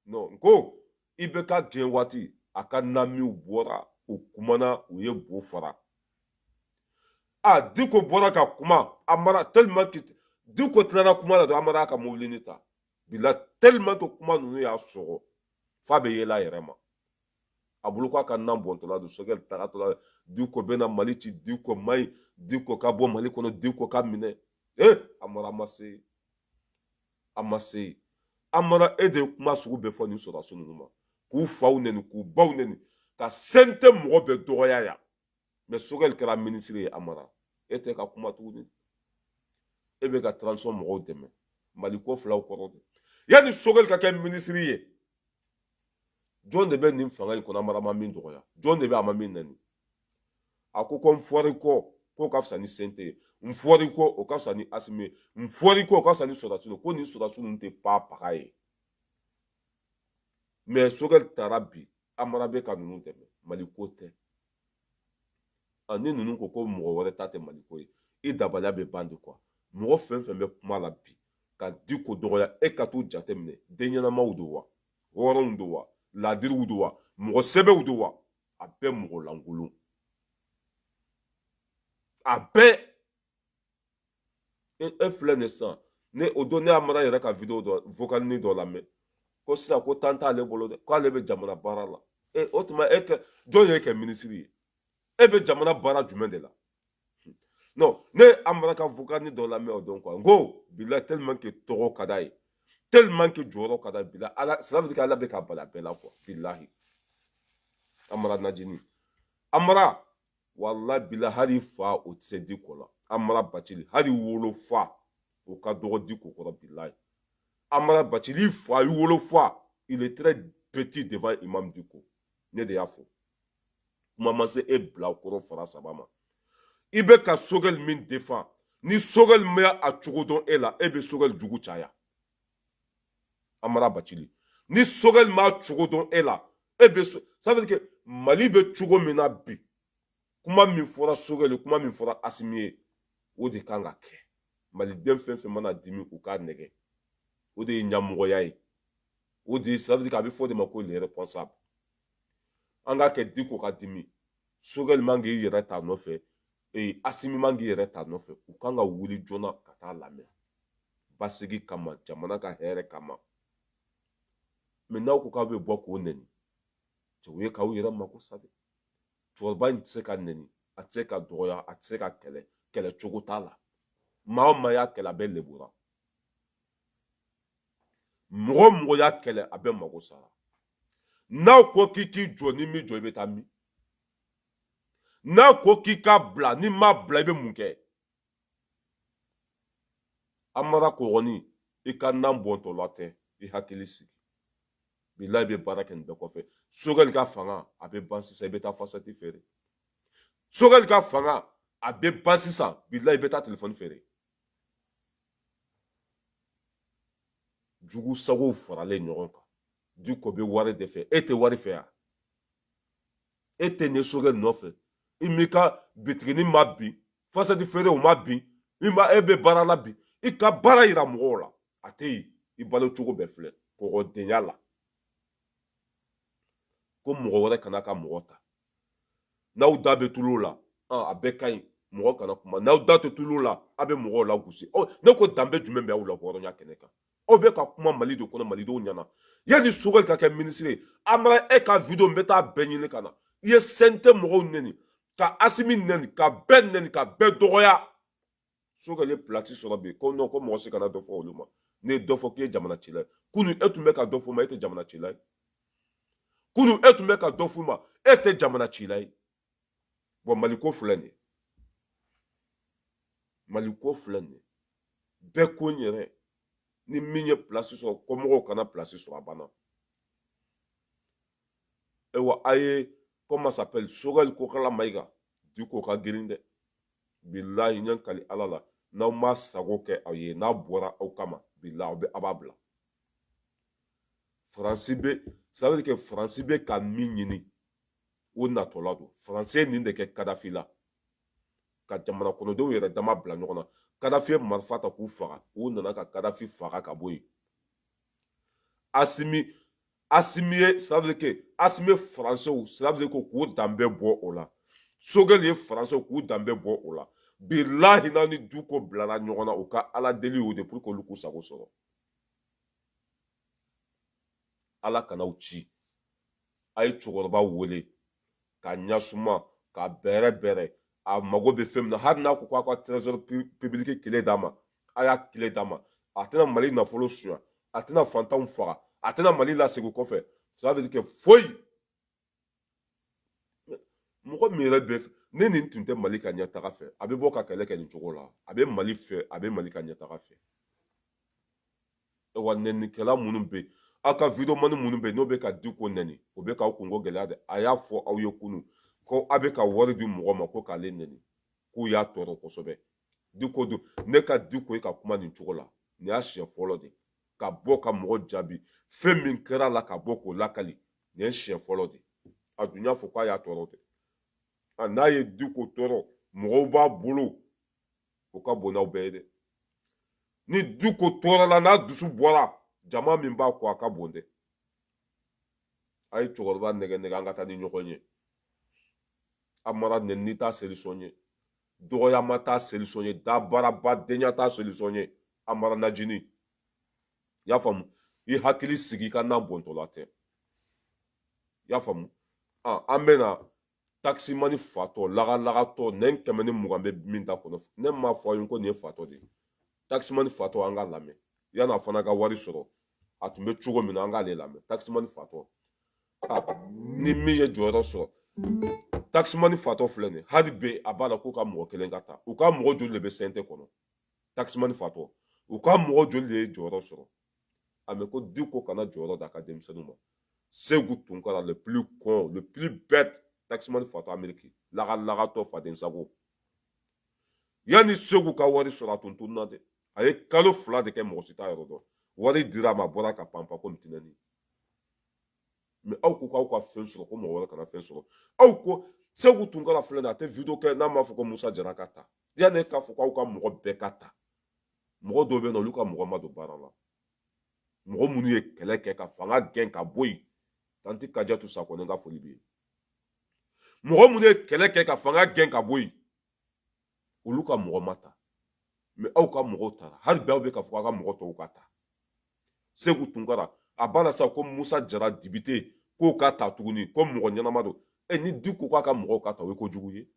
non n ko i bɛ ka gɛn waati a ka namiw bɔra u kumana u ye bo fara a diko bɔra ka kuma amara tellement que diko tilala kuma la dɔrɔn amara ka mobilini ta bila tellement que kuma ninnu y'a sɔgɔ f'a bɛ yɛlɛ a yɛrɛ ma a bolo k'a ka nan bɔntɔla don sogɛli tagatɔla diko bɛna mali ci diko man ɲi diko ka bɔ mali kɔnɔ diko ka minɛ amara ma se a ma se amara e de ye kuma sugu bɛɛ fɔ nin sɔrɔdasi ninnu ma k'u faw neni k'u baw neni ka CNT mɔgɔ bɛɛ dɔgɔya yan mais sogɛli kɛra minisiri ye amara e tɛ ka kuma tuguni e bɛ ka transition mɔgɔw dɛmɛ mali ko fil'aw kɔrɔ dɛ yanni sogɛli ka kɛ minisiri ye jɔn de bɛ nin fanga in kɔnɔ amara ma min dɔgɔya jɔn de bɛ a ma min neni a ko ko n fɔri kɔ k'o ka fisa ni CNT ye n fɔri kɔ o ka fisa ni asimi ye n fɔri kɔ o ka fisa ni sɔrɔdasi ye ko nin sɔrɔdasi ninnu tɛ pa paga ye mais sogɛli taara bi amara bɛ ka ninnu dɛmɛ mali ko tɛ ani ninnu ko ko mɔgɔ wɛrɛ ta tɛ mali ko ye i dabaliya bɛ ban de quoi mɔgɔ fɛn fɛn bɛ kuma la bi ka diko dɔgɔya e ka t'u jateminɛ den ɲɛnamaw don wa hɔrɔnw don wa laadiriw don wa mɔgɔ sɛbɛw don wa a bɛɛ mɔgɔ lankolon a bɛɛ e e filɛ nin sisan ne o don ne ye amara yɛrɛ ka video dɔ vokalini dɔ lamɛn ko sisan ko temps t'ale bolo dɛ k'ale bɛ jamana baara la e o tuma e kɛ jɔn y'e kɛ minisiri ye e bɛ jamana baara jumɛn de la non ne ye amara ka vokalini dɔ lamɛn o don quoi n ko bilahi tellement que tɔgɔ ka d'a ye tellement que jɔyɔrɔ ka d'a ye bilahi cela veut dire qu'ala bɛ k'a bal'a bɛɛ la quoi bilahi amara najini amara wala bila hali i fa o tɛ se diko la amara bacili hali i wolofa o ka dɔgɔ diko kɔrɔ bilayi amara bacili i fa i wolofa il est très petit devant imam diko ne de y'a fɔ kuma ma se e bilakoro fara saba ma i bɛ ka sogɛli min défend ni sogɛli ma a cogo dɔn e la e bɛ sogɛli jugu caya amara bacili ni sogɛli m'a cogo dɔn e la e bɛ so ça veut dire que mali bɛ cogo min na bi kuma min fɔra sogɛli kuma min fɔra asimi ye o de kan ka kɛ maliden fɛn fɛn mana dimi u k'a nɛgɛn o de ye ɲamɔgɔya ye o de ye ça veut dire que a bɛ fɔ o de ma ko le responsable an k'a kɛ diko ka dimi sogɛli man k'i yɛrɛ ta nɔfɛ ee asimi man k'i yɛrɛ ta nɔfɛ u kan ka wuli joona ka t'a lamɛn basigi kama jamana ka hɛrɛ kama mais n'aw ko k'aw bɛ bɔ k'o nɛni cɛ o ye k'aw yɛrɛ mako sa dɛ cɛkɔrɔba in tɛ se ka nɛni a tɛ se ka dɔgɔya a tɛ se ka kɛlɛ kɛlɛ cogo t'a la maa o maa y'a kɛlɛ a bɛɛ lebura mɔgɔ o mɔgɔ y'a kɛlɛ a bɛɛ mago sara n'a ko k'i k'i jɔ n'i m'i jɔ i bɛ taa min n'a ko k'i k'a bila n'i m'a bila i bɛ mun kɛ amara kɔgɔni i ka nan bɔntɔ la tɛ i hakili sigi bilayi i bɛ baara kɛ nin bɛɛ kɔfɛ sogɛli ka fanga a bɛ ban sisan i bɛ taa fasati feere sogɛli ka fanga a bɛ ban sisan bilayi i bɛ taa telefɔni feere jugu sagow faralen ɲɔgɔn kan diko bɛ wari de fɛ e tɛ wari fɛ yan e tɛ ɲɛ sogɛli nɔfɛ i m'i ka bitigini ma bin fasadi feere o ma bin e bɛ baara la bi i ka baara yira mɔgɔw la a tɛ yen i balo cogo bɛɛ filɛ kɔgɔdenya la ko mɔgɔ wɛrɛ kana ka mɔgɔ ta n'aw da bɛ tulu la a bɛɛ ka ɲi mɔgɔ kana kuma n'aw da tɛ tulu la a bɛ mɔgɔw lagosi ne ko danbe jumɛn bɛ aw la hɔrɔnya kɛnɛ kan aw bɛ ka kuma mali de kɔnɔ malidenw ɲɛna yanni sogɛli ka kɛ minisiri ye amara e ka video n bɛ taa bɛɛ ɲini ka na i ye CNT mɔgɔw nɛni ka asimi nɛni ka bɛɛ nɛni ka bɛɛ dɔgɔya sogɛli ye pilasi sɔrɔ bi ko nɔn ko mɔgɔ si kana dɔ fɔ olu ma n'i ye dɔ fɔ k'i ye jamana cila ye kunu e tun bɛ ka dɔ f'u ma e tɛ jamana cila ye kunu e tun bɛ ka dɔ f'u ma e tɛ jamana cila ye bɔn maliko filɛ nin ye maliko filɛ nin ye bɛɛ ko n yɛrɛ ni min ye pilasi sɔrɔ kɔmɔgɔw kana pilasi sɔrɔ a banna ayiwa a ye comment s'appelle sogɛli kokala mayiga diko ka girin dɛ bilahi n ye n kali ala la n'aw m'a sago kɛ a ye n'a bɔra aw kama bilahi aw bɛ a b'a bila faransi bɛ ça veut dire que faransi bɛ ka min ɲini o natɔla don faransi ye nin de kɛ kadafi la ka jamana kɔnɔdenw yɛrɛ dama bila ɲɔgɔn na kadafi ye marifa ta k'u faga u nana ka kadafi faga ka bɔ yen asimi asimi ye ça veut dire que asimi ye faransew ça veut dire ko k'u danbe bɔ o la sogɛli ye faransew k'u danbe bɔ o la bilahi n'a ni diko bilara ɲɔgɔn na u ka ala deli y'o de pour que olu k'u sago sɔrɔ ala kan'aw ci a ye cɛkɔrɔba wele k'a ɲasuma k'a bɛrɛbɛrɛ a mago bɛ fɛn min na hali n'a ko k'aw ka trésor public kile d'a ma a y'a kile d'a ma a tɛna mali nafolo suya a tɛna fantanw faga a tɛna mali lasegin kɔfɛ ça veut dire que foyi mɔgɔ min yɛrɛ bɛ ni nin tun tɛ mali ka ɲɛtaga fɛ a bɛ bɔ ka kɛlɛ kɛ nin cogo la a bɛ mali fɛ a bɛ mali ka ɲɛtaga fɛ wa nɛnikɛla minnu bɛ yen aw ka videomani minnu bɛ yen n'o bɛ ka diko nɛni o bɛ k'aw kunko gɛlɛya dɛ a y'a fɔ aw ye kunu ko aw bɛ ka wari di mɔgɔ ma ko k'ale nɛni k'u y'a tɔɔrɔ kosɛbɛ diko don ne ka diko ye ka kuma nin cogo la nin y'a siɲɛ fɔlɔ de ka bɔ ka mɔgɔ jaabi fɛn min kɛra a la ka bɔ k'o lakali nin ye siɲɛ fɔlɔ de a dun y'a fɔ k'a y'a tɔɔrɔ dɛ n'a ye diko tɔɔrɔ mɔgɔw b'a bolo o ka bon n'aw bɛɛ ye dɛ ni diko tɔɔrɔla n'a dusu bɔra jama min b'a kɔ a ka bon dɛ a ye cɛkɔrɔba nɛgɛ nɛgɛ an ka taa ni ɲɔgɔn ye amara nɛnini t'a solution ye dɔgɔyama t'a solution ye dabaraba denya t'a solution ye amara najini i y'a faamu i hakili sigi i ka na bɔntɔla tɛ i y'a faamu an bɛna takisimani fatɔ lagalagatɔ nɛn kɛmɛ ni mugan bɛ min da kɔnɔ ne m'a fɔ aw ye ko nin ye fatɔ de ye takisimani fatɔ an k'a lamɛn yanni a fana ka wari sɔrɔ a tun bɛ cogo min na an k'ale lamɛn takisimani fatɔ ni min ye jɔyɔrɔ sɔrɔ takisimani fatɔ filɛ nin hali bi a b'a la k'u ka mɔgɔ kelen ka ta u ka mɔgɔ joli de bɛ CNT kɔnɔ takisimani fatɔ u ka mɔgɔ joli de ye jɔyɔrɔ sɔrɔ a mɛ ko diko kana jɔyɔrɔ d'a ka denmisɛnninw ma segu tunkara le plus con le plus bête taximani fatɔ ameriki lagalagatɔ faden sago yanni segu ka wari sɔrɔ a tun tununna dɛ a ye kalo fila de kɛ mɔgɔ si t'a yɔrɔ dɔn wari dira a ma a bɔra ka panpa ko mitinɛni mais aw ko k'aw ka fɛn sɔrɔ ko mɔgɔ wɛrɛ kana fɛn sɔrɔ aw ko segu tunkara filɛ nin a tɛ video kɛ n'a m'a fɔ ko musa jara ka ta yanni e k'a fɔ k'aw ka mɔgɔ bɛɛ ka ta mɔgɔ dɔw bɛ na olu ka mɔgɔ ma don baara la mɔgɔ minnu ye kɛlɛ kɛ ka fanga gɛn ka bɔ yen tanti kajatu sakɔ ne ka foli bɛ yen mɔgɔ minnu ye kɛlɛ kɛ ka fanga gɛn ka bɔ yen olu ka mɔgɔ ma ta mais aw ka mɔgɔw tara hali bi aw bɛ k'a fɔ k'aw ka mɔgɔ tɔw ka ta segu tunkara a b'a la sa ko musa jara député k'o ka ta tuguni ko mɔgɔ ɲɛnama don e ni diko k'a ka mɔgɔw ka ta o ye kojugu ye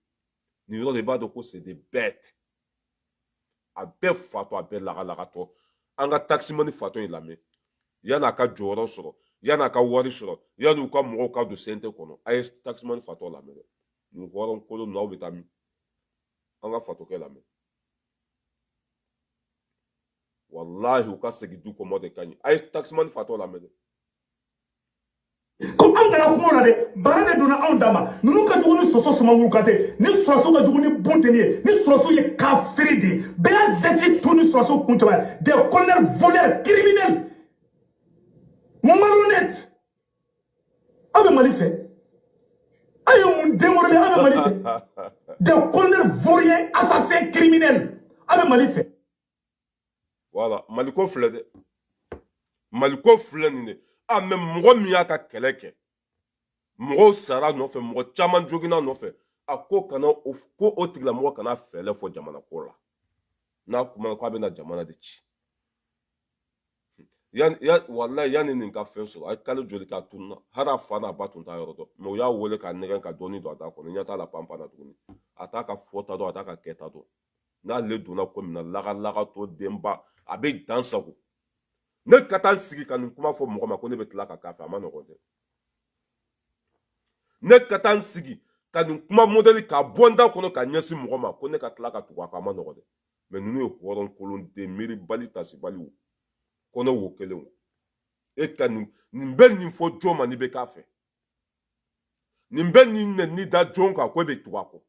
nin yɔrɔ de b'a dɔn ko c'est des bêtes a bɛɛ fatɔ a bɛɛ lagalagatɔ an ka takisimani fatɔ in lamɛn yan'a ka jɔyɔrɔ sɔrɔ yan'a ka wari sɔrɔ yanni u ka mɔgɔw ka don CNT kɔnɔ a ye takisimani fatɔ lamɛn dɛ nin hɔrɔn kolon ninnu aw bɛ taa min an ka fatɔkɛ lamɛn walahi u ka segin diko ma de ka ɲi a ye takisimani fatɔ lamɛn dɛ ko anw kana kuma o la dɛ baara de donna anw dama ninnu ka jugu ni soso sumankuru kan tɛ nin sɔrɔdasiw ka jugu ni bunteni ye nin sɔrɔdasiw ye kafiri de ye bɛɛ y'a daji to nin sɔrɔdasiw kun cɛba ye des colonels voleurs criminels malhonnêtes aw bɛ mali fɛ aw ye mun denmorele aw bɛ mali fɛ des colonels vauriens assassins criminels aw bɛ mali fɛ voilà maliko filɛ dɛ maliko filɛ nin de a mais mɔgɔ min y'a ka kɛlɛ kɛ mɔgɔw sara nɔfɛ mɔgɔ caman joginna nɔfɛ a ko kana o ko o tigilamɔgɔ kana fɛɛlɛ fɔ jamana ko la n'a kumana k'a bɛna jamana de ci yani ya wallahi yani nin ka fɛn sɔrɔ a ye kalo joli k'a tununa hali a fa n'a ba tun t'a yɔrɔ dɔn mais u y'a wele k'a nɛgɛn ka dɔɔni don a da kɔnɔ ɲɛ t'a la panpan na tuguni a t'a ka fɔta dɔn a t'a ka kɛta dɔn n'ale donna ko min na lagalagatɔ denba a bɛ dan sago ne ka taa n sigi ka nin kuma fɔ mɔgɔ ma ko ne bɛ tila ka k'a fɛ a man nɔgɔn dɛ ne ka taa n sigi ka nin kuma modèle k'a bɔ n da kɔnɔ ka ɲɛsin mɔgɔ ma ko ne ka tila ka tugu a kɔ a man nɔgɔn dɛ mais ninnu ye hɔrɔn kolon den miiribali tasibaliw kɔnɔ wo kelen o e ka nin nin bɛ nin fɔ jɔn ma n'i bɛ k'a fɛ nin bɛ nin nɛni da jɔn kan ko e bɛ tugu a kɔ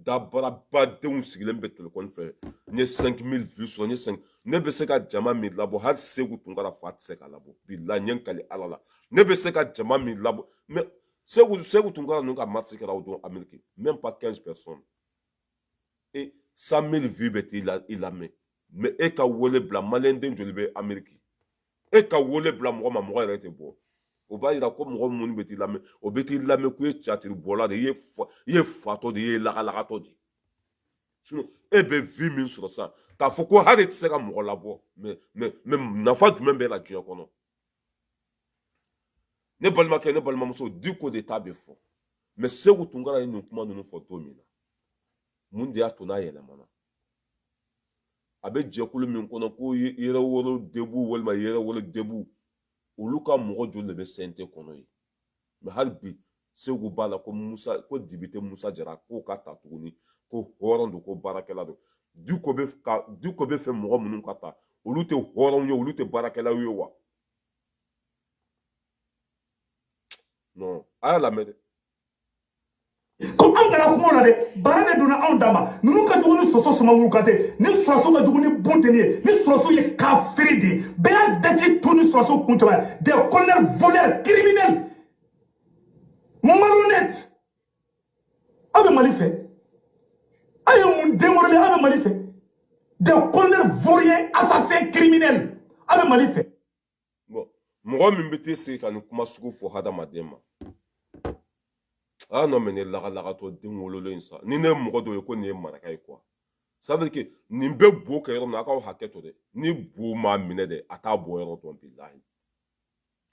dabarabadenw sigilen bɛ telefɔni fɛ n ye 5000 vues sɔrɔ n ye 5 ne bɛ se ka jama min labɔ hali segu tunkara fa tɛ se ka labɔ bilahi n ye n kali ala la ne bɛ se ka jama min labɔ mais segu segu tunkara ninnu ka marche kɛra o don ameriki même pas 15 personnes et 100000 vues bɛ t'i la i lamɛn mais e ka wele bila maliyɛnden joli bɛ ameriki e ka wele bila mɔgɔ ma mɔgɔ yɛrɛ tɛ bɔ o b'a yira ko mɔgɔ minnu bɛ t'i lamɛn o bɛ t'i lamɛn ko i ye catiri bɔla de i ye fatɔ de i ye lagalagatɔ de e bɛ vues min sɔrɔ sisan k'a fɔ ko hali e tɛ se ka mɔgɔ labɔ mais mais mais nafa jumɛn b'e la diɲɛ kɔnɔ ne balimakɛ ne balimamuso diko de ta bɛ fɔ mais segu tunkara ye nin kuma ninnu fɔ don min na mun de y'a to n'a yɛlɛmana a bɛ jɛkulu min kɔnɔ ko yɛrɛwolo debout walima yɛrɛwolo debout olu ka mɔgɔ joli de bɛ CNT kɔnɔ ye mais hali bi segu b'a la ko musa ko député musa jara k'o ka ta tuguni ko hɔrɔn don ko baarakɛla don diko bɛ ka diko b'a fɛ mɔgɔ minnu ka ta olu tɛ hɔrɔnw ye olu tɛ baarakɛlaw ye wa non a y'a lamɛn dɛ ko anw kana kuma la dɛ baara de donna anw dama ninnu ka jugu ni soso sumanguru kantɛ nin sɔrɔdasi ka jugu ni bunteni ye nin sɔrɔdasi ye kafiri de ye bɛɛ y'a daji tu nin sɔrɔdasi kun cɛba ye des colonels voleurs criminels malhonnêtes aw bɛ mali fɛ aw ye mun den wololen aw bɛ mali fɛ des colonels vauriens assassins criminels aw bɛ mali fɛ bon mɔgɔ min bɛ t'i sigi ka nin kuma sugu fɔ hadamaden ma aa non mais ne lagalagatɔ den wololen sa ni ne ye mɔgɔ dɔ ye ko nin ye maraka ye quoi ça veut dire que nin bɛ bo kɛ yɔrɔ min na a k'aw hakɛ to dɛ ni bo m'a minɛ dɛ a t'a bɔ yɔrɔ dɔn bilahi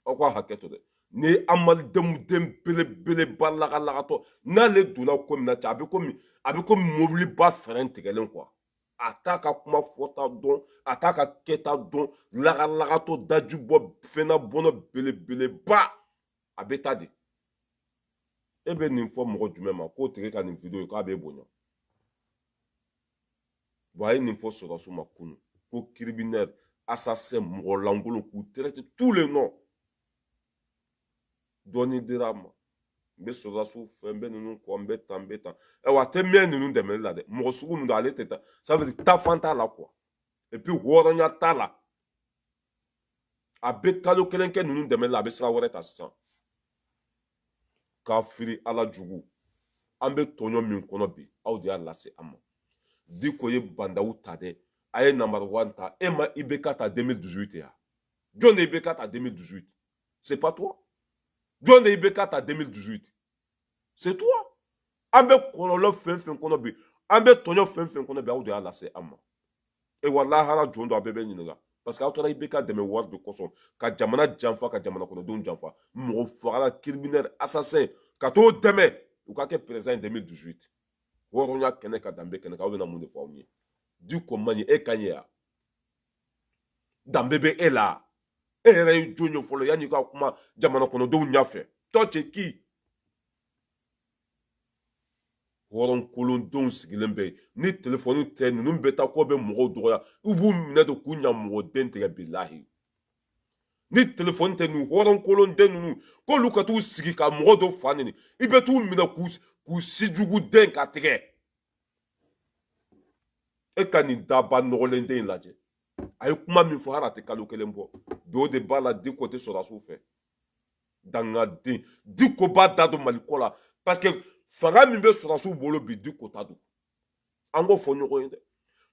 aw k'a hakɛ to dɛ ni amalidenw den belebeleba lagalagatɔ n'ale donna ko min na cɛ a bɛ komi a bɛ komi mobiliba fɛrɛn tigɛlen quoi a t'a ka kuma fɔta dɔn a t'a ka kɛta dɔn lagalagatɔ daji bɔ fɛnna bɔnɔ belebeleba a bɛ ta de e bɛ nin fɔ mɔgɔ jumɛn ma k'o tigi ka nin video ye k'a bɛ bonya wa a ye nin fɔ sɔrɔdasiw ma kunu ko criminel assassin mɔgɔ lankolon k'u traite tous les noms dɔɔni dira a ma n bɛ sɔrɔdasiw fɛ n bɛ ninnu kɔ n bɛ tan n bɛ tan ayiwa a tɛ mɛn ninnu dɛmɛli la dɛ mɔgɔ sugu min don ale tɛ taa ça veut dire taafan t'a la quoi et puis hɔrɔnya t'a la a bɛ kalo kelen kɛ ninnu dɛmɛli la a bɛ sira wɛrɛ ta sisan kafiri ala jugu an bɛ tɔɲɔ min kɔnɔ bi aw de y'a lase an ma diko ye bandaw ta dɛ a ye number one ta e ma IBK ta 2018 ya jɔn ye IBK ta 2018. C'est pas toi. jɔn ye IBK ta 2018. C'est toi. An bɛ kɔlɔlɔ fɛn fɛn kɔnɔ bi an bɛ tɔɲɔ fɛn fɛn kɔnɔ bi aw de y'a lase an ma e wa lahara jɔ don a bɛɛ bɛ ɲininka parce que aw taara IBK dɛmɛ wari de kosɔn ka jamana janfa ka jamana kɔnɔdenw janfa mɔgɔ fagala criminel assassin ka t'o dɛmɛ u ka kɛ président en 2018 hɔrɔnya kɛnɛ kan danbe kɛnɛ kan aw bɛna mun de fɔ aw ye diko man ɲi e ka ɲi ya danbe bɛ e la e yɛrɛ ye jɔn ye fɔlɔ yanni ka kuma jamana kɔnɔdenw ɲɛfɛ toi c'est qui hɔrɔn kolondenw sigilen bɛ ni telefɔni tɛ ninnu bɛ taa k'u bɛ mɔgɔw dɔgɔya u b'u minɛ de k'u ɲamɔgɔden tigɛ bilahi ni telefɔni tɛ nin hɔrɔn kolonden ninnu k'olu ka t'u sigi ka mɔgɔ dɔ fa nɛni i bɛ t'u minɛ k'u sijuguden kan tigɛ e ka nin daba nɔgɔlen den in lajɛ a ye kuma min fɔ hali a tɛ kalo kelen bɔ bi o de b'a la diko tɛ sɔrɔdasiw fɛ dangaden diko b'a da don mali ko la parce que fanga min bɛ sɔrɔdasiw bolo bi diko ta don an k'o fɔ ɲɔgɔn ye dɛ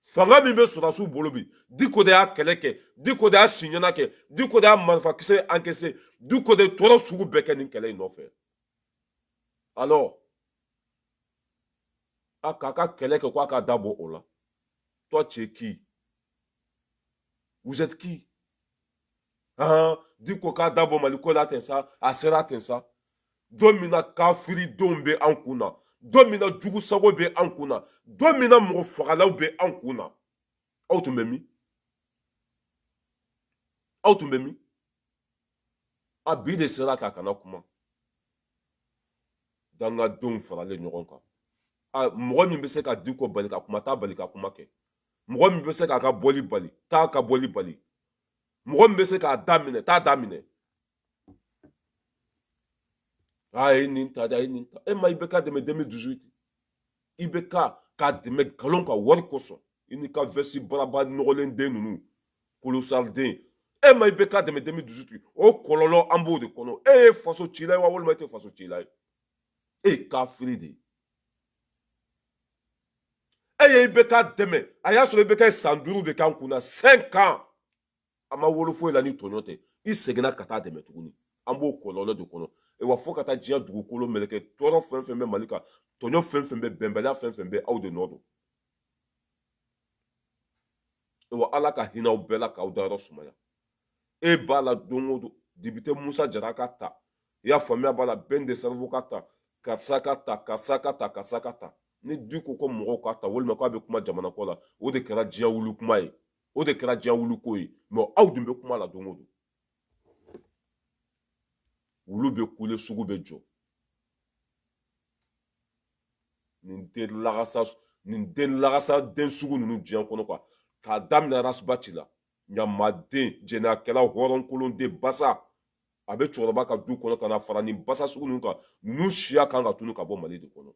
fanga min bɛ sɔrɔdasiw bolo bi diko de y'a kɛlɛ kɛ diko de y'a siɲɛna kɛ diko de y'a marifakisɛ encaissé diko de tɔɔrɔ sugu bɛɛ kɛ nin kɛlɛ in nɔfɛ alors a k'a ka kɛlɛ kɛ ko a ka da bɔ o la toi tu es qui vous êtes qui ah diko k'a da bɔ mali ko la ten sa a sera ten sa don min na kafiridenw bɛ an kun na don min na jugu sago bɛ an kun na don min na mɔgɔ fagalaw bɛ an kun na aw tun bɛ min aw tun bɛ min a bi de sera k'a kana kuma dangadenw faralen ɲɔgɔn kan a mɔgɔ min bɛ se ka diko bali ka kuma t'a bali ka kuma kɛ mɔgɔ min bɛ se k'a ka bɔli bali t'a ka bɔli bali mɔgɔ min bɛ se k'a daminɛ t'a daminɛ a ye nin ta a ye nin ta e ma IBK dɛmɛ 2018 ibk k'a dɛmɛ nkalon ka wari kosɔn i n'i ka vɛsi baraba nɔgɔlen den ninnu kolosariden e ma ibk dɛmɛ deux mille dix-huit o kɔlɔlɔ an b'o de kɔnɔ e ye faso cila ye wa walima e tɛ faso cila ye e ye kafiri de ye e ye ibk dɛmɛ a y'a sɔrɔ ibk san duuru de k'an kunna cinq ans a ma wolo foyi la ni tɔɲɔ tɛ i seginna ka taa dɛmɛ tuguni an b'o kɔlɔlɔ de kɔnɔ wa fo ka taa diɲɛ dugukolo meleke tɔɔrɔ fɛn fɛn bɛ mali kan tɔɲɔ fɛn fɛn bɛ bɛnbaliya fɛn fɛn bɛ aw de nɔ don wa ala ka hinɛ aw bɛɛ la k'aw dayɔrɔ sumaya e b'a la don o don depite musa jara ka ta i y'a faamuya b'a la bɛn le cerveau ka ta karisa ka ta karisa ka ta karisa ka ta ni diko ka mɔgɔw ka ta walima k'a bɛ kuma jamana ko la o de kɛra diɲɛ wuli kuma ye o de kɛra diɲɛ wuli ko ye mɛ aw dun bɛ kuma la don o don wulu bɛ kule sugu bɛ jɔ nin den lagasa den sugu ninnu diɲɛ kɔnɔ quoi k'a daminɛ ras bath la ɲamaden jɛnɛyakɛla hɔrɔnkolon den basa a bɛ cɛkɔrɔba ka du kɔnɔ ka na fara nin basa sugu ninnu kan ninnu siya kan ka tunu ka bɔ mali de kɔnɔ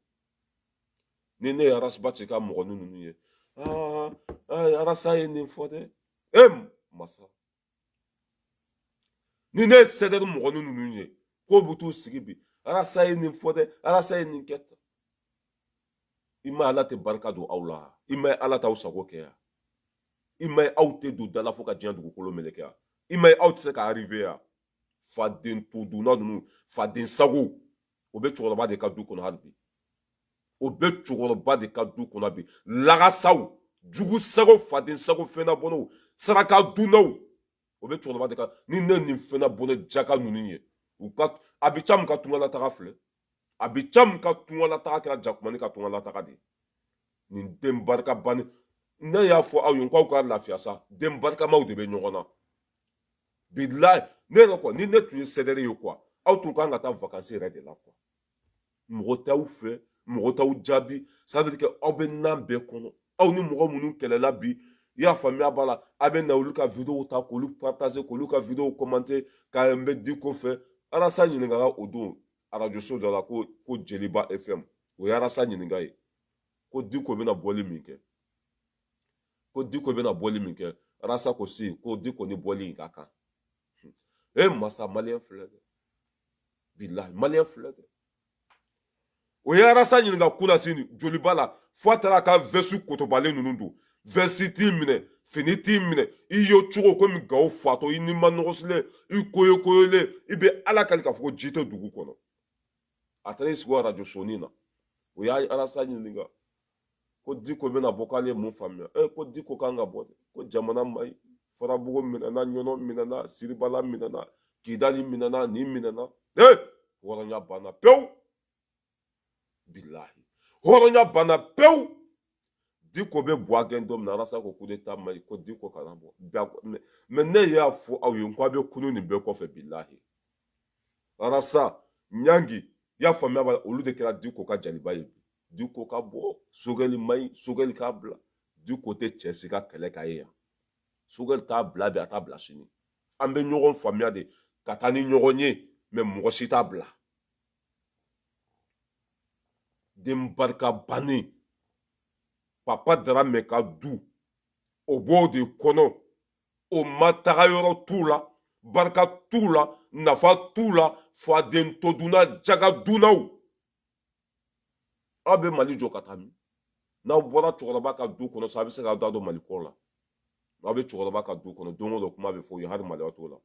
ni ne ye ras bath ka mɔgɔnin ninnu ye aa arasa ye nin fɔ dɛ e masa ni ne ye sɛdɛri mɔgɔnin ninnu ye k'u bɛ t'u sigi bi arasa ye nin fɔ dɛ arasa ye nin kɛ tan i ma ala tɛ barika don aw la i m'a ye ala t'aw sago kɛ yan i m'a ye aw tɛ don da la fo ka diɲɛ dugukolo meleke yan i m'a ye aw tɛ se ka arriver yan faden todunna ninnu faden sago o bɛ cɛkɔrɔba de ka du kɔnɔ hali bi o bɛ cɛkɔrɔba de ka du kɔnɔ bi lagasaw jugu sago faden sago fɛnna bɔnnaw saraka dunnaw o bɛ cɛkɔrɔba de ka ni ne nin fɛnna bɔnɛ jaka ninnu ye u ka abi cam ka tungalataga filɛ abi cam ka tungalataga kɛra jakumani ka tungalataga de nin den barika bani ne y'a fɔ aw ye k'aw ka lafiya sa den barikamaw de bɛ ɲɔgɔn na bilayi ne yɛrɛ kɔ ni ne tun ye sɛdɛri ye quoi aw tun kan ka taa vakansi yɛrɛ de la quoi mɔgɔ t'aw fɛ mɔgɔ t'aw jaabi ça veut dire que aw bɛ nan bɛɛ kɔnɔ aw ni mɔgɔ minnu kɛlɛla bi i y'a faamuya b'a la a bɛ na olu ka videow ta k'olu partager k'olu ka videow commenter k'an bɛ diko fɛ arasa ɲininkala o don arajo so dɔ la ko jeliba fm o ye arasa ɲininka ye ko diko bɛna bɔli min kɛ ko diko bɛna bɔli min kɛ arasa ko si ko diko ni bɔli in ka kan e masa maliyɛn filɛ dɛ bilahi maliyɛn filɛ dɛ o ye arasa ɲininka kunasini joliba la fo a taara ka vɛsi kotobalen ninnu don vɛsi t'i minɛ fini t'i minɛ i ye cogo komi gawo fatɔ i ni ma nɔgɔsilen i koyokoyolen i bɛ ala kali k'a fɔ ko ji tɛ dugu kɔnɔ a taara i sigi arajo sɔni na o y'a arasa ɲininka ko diko bɛna bɔ k'ale ye mun faamuya e ko diko kan ka bɔ de ko jamana man ɲi farabugu minɛna ɲɔnɔ minɛna siribala minɛna kidali minɛna nin minɛna e hɔrɔnya banna pewu bilahi hɔrɔnya banna pewu diko bɛ bɔ a gɛn don min na arasa ko coup d'état man ɲi ko diko kana bɔ mɛ ne y'a fɔ aw ye ko a bɛ kunu nin bɛɛ kɔfɛ bilahi arasa nyangi y'a faamuya b'a la olu de kɛra diko ka jaliba ye bi diko ka bɔ sogɛli man ɲi sogɛli k'a bila diko tɛ cɛ si ka kɛlɛ ka ye yan sogɛli t'a bila bi a t'a bila sini an bɛ ɲɔgɔn faamuya de ka taa ni ɲɔgɔn ye mɛ mɔgɔ si t'a bila den barika bannen papa daramɛ ka du o b'o de kɔnɔ o ma taga yɔrɔ t'u la barika t'u la nafa t'u la faden to dunna jaga dunnaw aw bɛ mali jɔ ka taa min n'aw bɔra cɛkɔrɔba ka du kɔnɔ sa a bɛ se k'aw da don mali ko la aw bɛ cɛkɔrɔba ka du kɔnɔ don o don kuma bɛ fɔ u ye hali maloya t'o la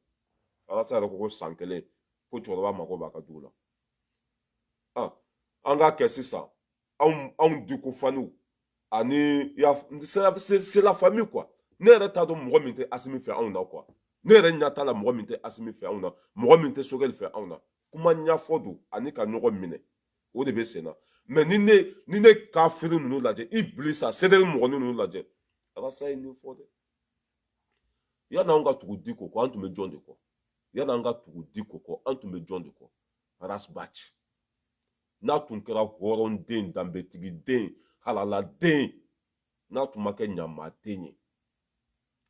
arasa yɛrɛ ko ko san kelen ko cɛkɔrɔba mago b'a ka du la an k'a kɛ sisan anw anw diko faniw ani c'est la famille quoi ne yɛrɛ t'a dɔn mɔgɔ min tɛ asimi fɛ anw na quoi ne yɛrɛ ɲɛ t'a la mɔgɔ min tɛ asimi fɛ anw na mɔgɔ min tɛ sogɛli fɛ anw na kuma ɲɛfɔ don ani ka ɲɔgɔn minɛ o de bɛ sen na mɛ ni ne ni ne kafiri ninnu lajɛ ibilisa c'est-à-dire mɔgɔ ninnu lajɛ arasa ye nin fɔ dɛ yanni anw ka tugu diko kɔ an tun bɛ jɔn de kɔ yanni an ka tugu diko kɔ an tun bɛ jɔn de kɔ arasbaci n'a tun kɛra hɔrɔnden danbetigiden halaladen n'a tun ma kɛ ɲamaden ye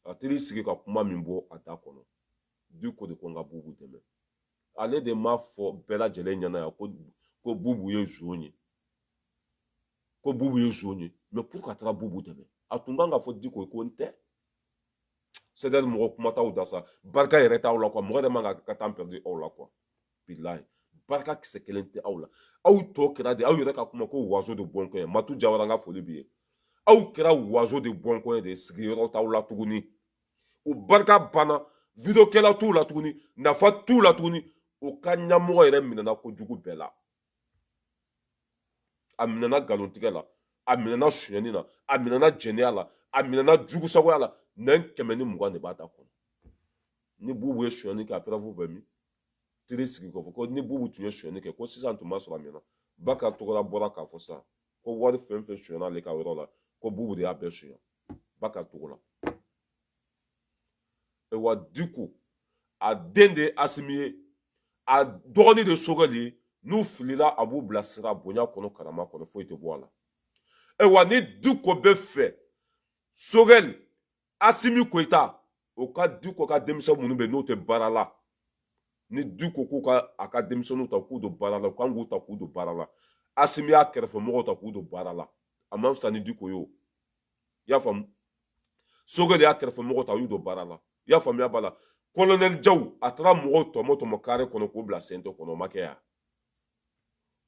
a tɛ i sigi ka kuma min bɔ a da kɔnɔ diko de ko n ka bubu dɛmɛ ale de m'a fɔ bɛɛ lajɛlen ɲɛna yan ko bubu ye zon ye ko bubu ye zon ye mais pour ka taga bubu dɛmɛ a tun kan k'a fɔ diko ye ko n tɛ c'est-à-dire mɔgɔ kuma t'aw da sa barika yɛrɛ t'aw la quoi mɔgɔ yɛrɛ man ka temps perdu aw la quoi bilahi barika kisɛ kelen tɛ aw la aw tɔ kɛra de aw yɛrɛ ka kuma ko wazo de bɔnkɔ ye matu jawara n ka foli b'i ye aw kɛra wazo de bɔnkɔ ye de sigiyɔrɔ t'aw la tuguni o barika banna vidéo kɛla t'u la tuguni nafa t'u la tuguni o ka ɲɛmɔgɔ yɛrɛ minɛna kojugu bɛɛ la a minɛna nkalontigɛ la a minɛna sonyɛni na a minɛna jɛnɛya la a minɛna jugusagoya la nɛn kɛmɛ ni mugan de b'a da kɔnɔ ni bubu ye sonyɛni kɛ a preuve bɛ min teri sigi k'a fɔ ko ni bubu tun ye sonyɛni kɛ ko sisan tun b'a sɔrɔ a minɛna baka togola bɔra k'a fɔ sisan ko wari fɛn fɛn sonyɛna ale ka yɔrɔ la ko bubu de y'a bɛɛ sonya baka togola wa diko a den de ye asimi ye a dɔgɔni de sogɛli ye n'u filila a b'u bilasira bonya kɔnɔ karama kɔnɔ foyi tɛ bɔ a la ayiwa ni diko bɛ fɛ sogɛli asimi koyita o ka diko ka denmisɛn minnu bɛ n'o tɛ baara la ni diko k'u ka a ka denmisɛnninw ta k'u don baara la u kan k'u ta k'u don baara la asimi y'a kɛrɛfɛmɔgɔw ta k'u don baara la a man fisa ni diko ye o i y'a faamu sogɛli y'a kɛrɛfɛmɔgɔw ta u y'u don baara la i y'a faamuya b'a la kolonɛli jaw a taara mɔgɔw tɔmɔ tɔmɔ kare kɔnɔ k'u bila cnt kɔnɔ o ma kɛ yan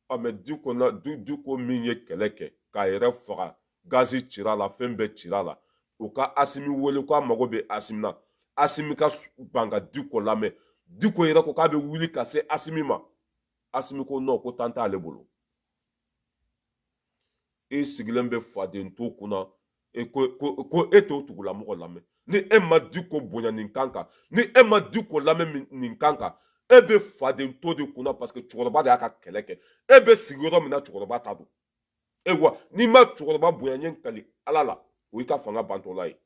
a mais di diko min ye kɛlɛ kɛ k'a yɛrɛ faga gazi cira la fɛn bɛɛ cira la o ka asimi wele ko a mago bɛ asimi na asimi ka ban ka diko lamɛn diko yɛrɛ ko k'a bɛ wuli ka se asimi ma asimi ko non ko temps t'ale bolo i sigilen bɛ faden to kunna e ko ko ko e t'o tugula mɔgɔ lamɛn ni e ma diko bonya nin kan kan ni e ma diko lamɛn nin kan kan e bɛ faden to de kunna parce que cɛkɔrɔba de y'a ka kɛlɛ kɛ e bɛ sigi yɔrɔ min na cɛkɔrɔba ta don ayiwa n'i ma cɛkɔrɔba bonya ɲɛ kali ala la o y'i ka fanga bantɔla ye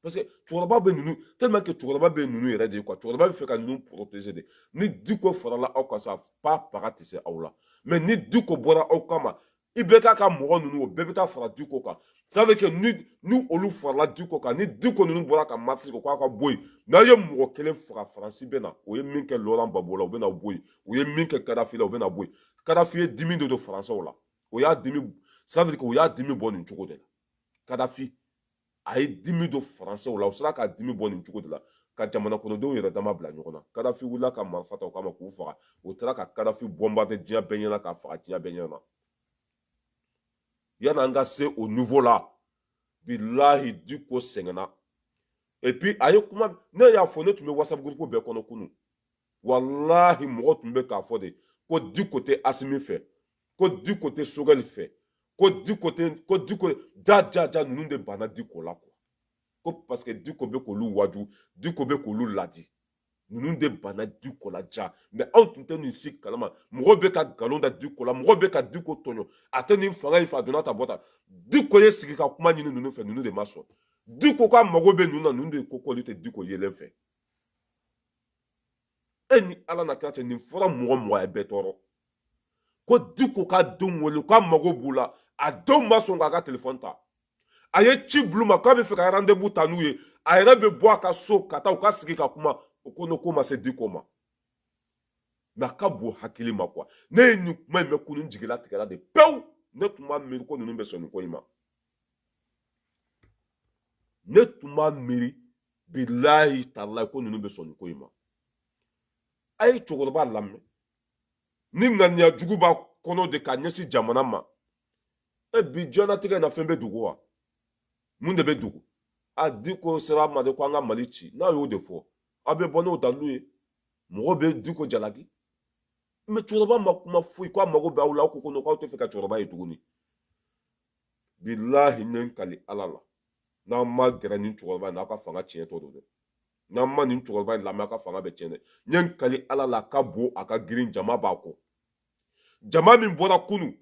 parce que cɛkɔrɔba bɛ ninnu tellement que cɛkɔrɔba bɛ ninnu yɛrɛ de ye quoi cɛkɔrɔba bɛ fɛ ka ninnu protéger de ni diko farala aw kan sa pa paga tɛ se aw la mais ni diko bɔra aw kama i bɛ k'a ka mɔgɔ ninnu o bɛɛ bɛ taa fara diko kan ça veut dire que ni ni olu farala diko kan ni diko ninnu bɔra ka marche kɛ k'a ka bɔ yen n'a ye mɔgɔ kelen faga faransi bɛ na o ye min kɛ laurent gbagbo la u bɛ na bɔ yen u ye min kɛ kadafi la u bɛ na bɔ yen kadafi ye dimi de don faransɛw la o y'a dimi ça veut dire que o y'a dimi bɔ nin cogo de la kadafi a ye dimi don faransɛw la u sera k'a dimi bɔ nin cogo de la ka jamana kɔnɔdenw yɛrɛ dama bila ɲɔgɔn na kadafi wulila ka marifa ta o kama k'u faga u taara ka kadafi bombarder diɲɛ bɛɛ ɲɛna k'a faga diɲɛ bɛɛ ɲɛna yani an ka se o niveau la bilahi diko sɛgɛnna et puis a ye kuma ne y'a fɔ ne tun bɛ whatsapp groupe bɛɛ kɔnɔ kunu walahi mɔgɔ tun bɛ k'a fɔ de ko diko tɛ asimi fɛ ko diko tɛ sogɛli fɛ ko diko tɛ ko diko ja ja ja ninnu de banna diko la quoi ko parce que diko bɛ k'olu waju diko bɛ k'olu ladi ninnu de banna diko la ja mais anw tun tɛ nin si kalama mɔgɔw bɛ ka nkalon da diko la mɔgɔw bɛ ka diko tɔɲɔ a tɛ nin fanga in fɛ a donna ta bɔ ta diko ye sigi ka kuma ɲini ninnu fɛ ninnu de ma sɔn diko k'a mago bɛ ninnu na ninnu de ko k'olu tɛ diko yelen fɛ e ni ala n'a kira cɛ nin fɔra mɔgɔ mɔgɔ ye bɛɛ tɔɔrɔ ko diko k'a denw wele k'a mago b'u la a denw ma sɔn k'a ka telefɔni ta a ye ci bila u ma k'a bɛ fɛ ka rendez-vous ta n'u ye a yɛrɛ bɛ bɔ a ka so ka taa u ka sigi ka kuma o ko n'o ko ma se diko ma mais a ka bon hakili ma quoi ne ye nin kuma in mɛn kunu n jigilatigɛra de pewu ne tun b'a miiri ko ninnu bɛ sɔn nin ko in ma ne tun b'a miiri bilahi talahi ko ninnu bɛ sɔn nin ko in ma a ye cɛkɔrɔba lamɛn ni ŋaniya jugu b'a kɔnɔ de ka ɲɛsin jamana ma e bi diɲɛnatigɛ na fɛn bɛ dogo wa mun de bɛ dogo a diko sera ma de ko an ka mali ci n'a y'o de fɔ aw bɛ bɔ n'o dalilu ye mɔgɔ bɛ diko jalaki mais cɛkɔrɔba ma kuma foyi ko a mago bɛ aw la aw ko ko k'aw tɛ fɛ ka cɛkɔrɔba ye tuguni bilahi ne kali ala la n'aw ma gɛrɛ ni cɛkɔrɔba in na aw ka fanga tiɲɛtɔ don dɛ n'an ma nin cɛkɔrɔba in lamɛn aw ka fanga bɛ tiɲɛ dɛ ne kali ala la a ka bon a ka girin jama b'a kɔ jama min bɔra kunu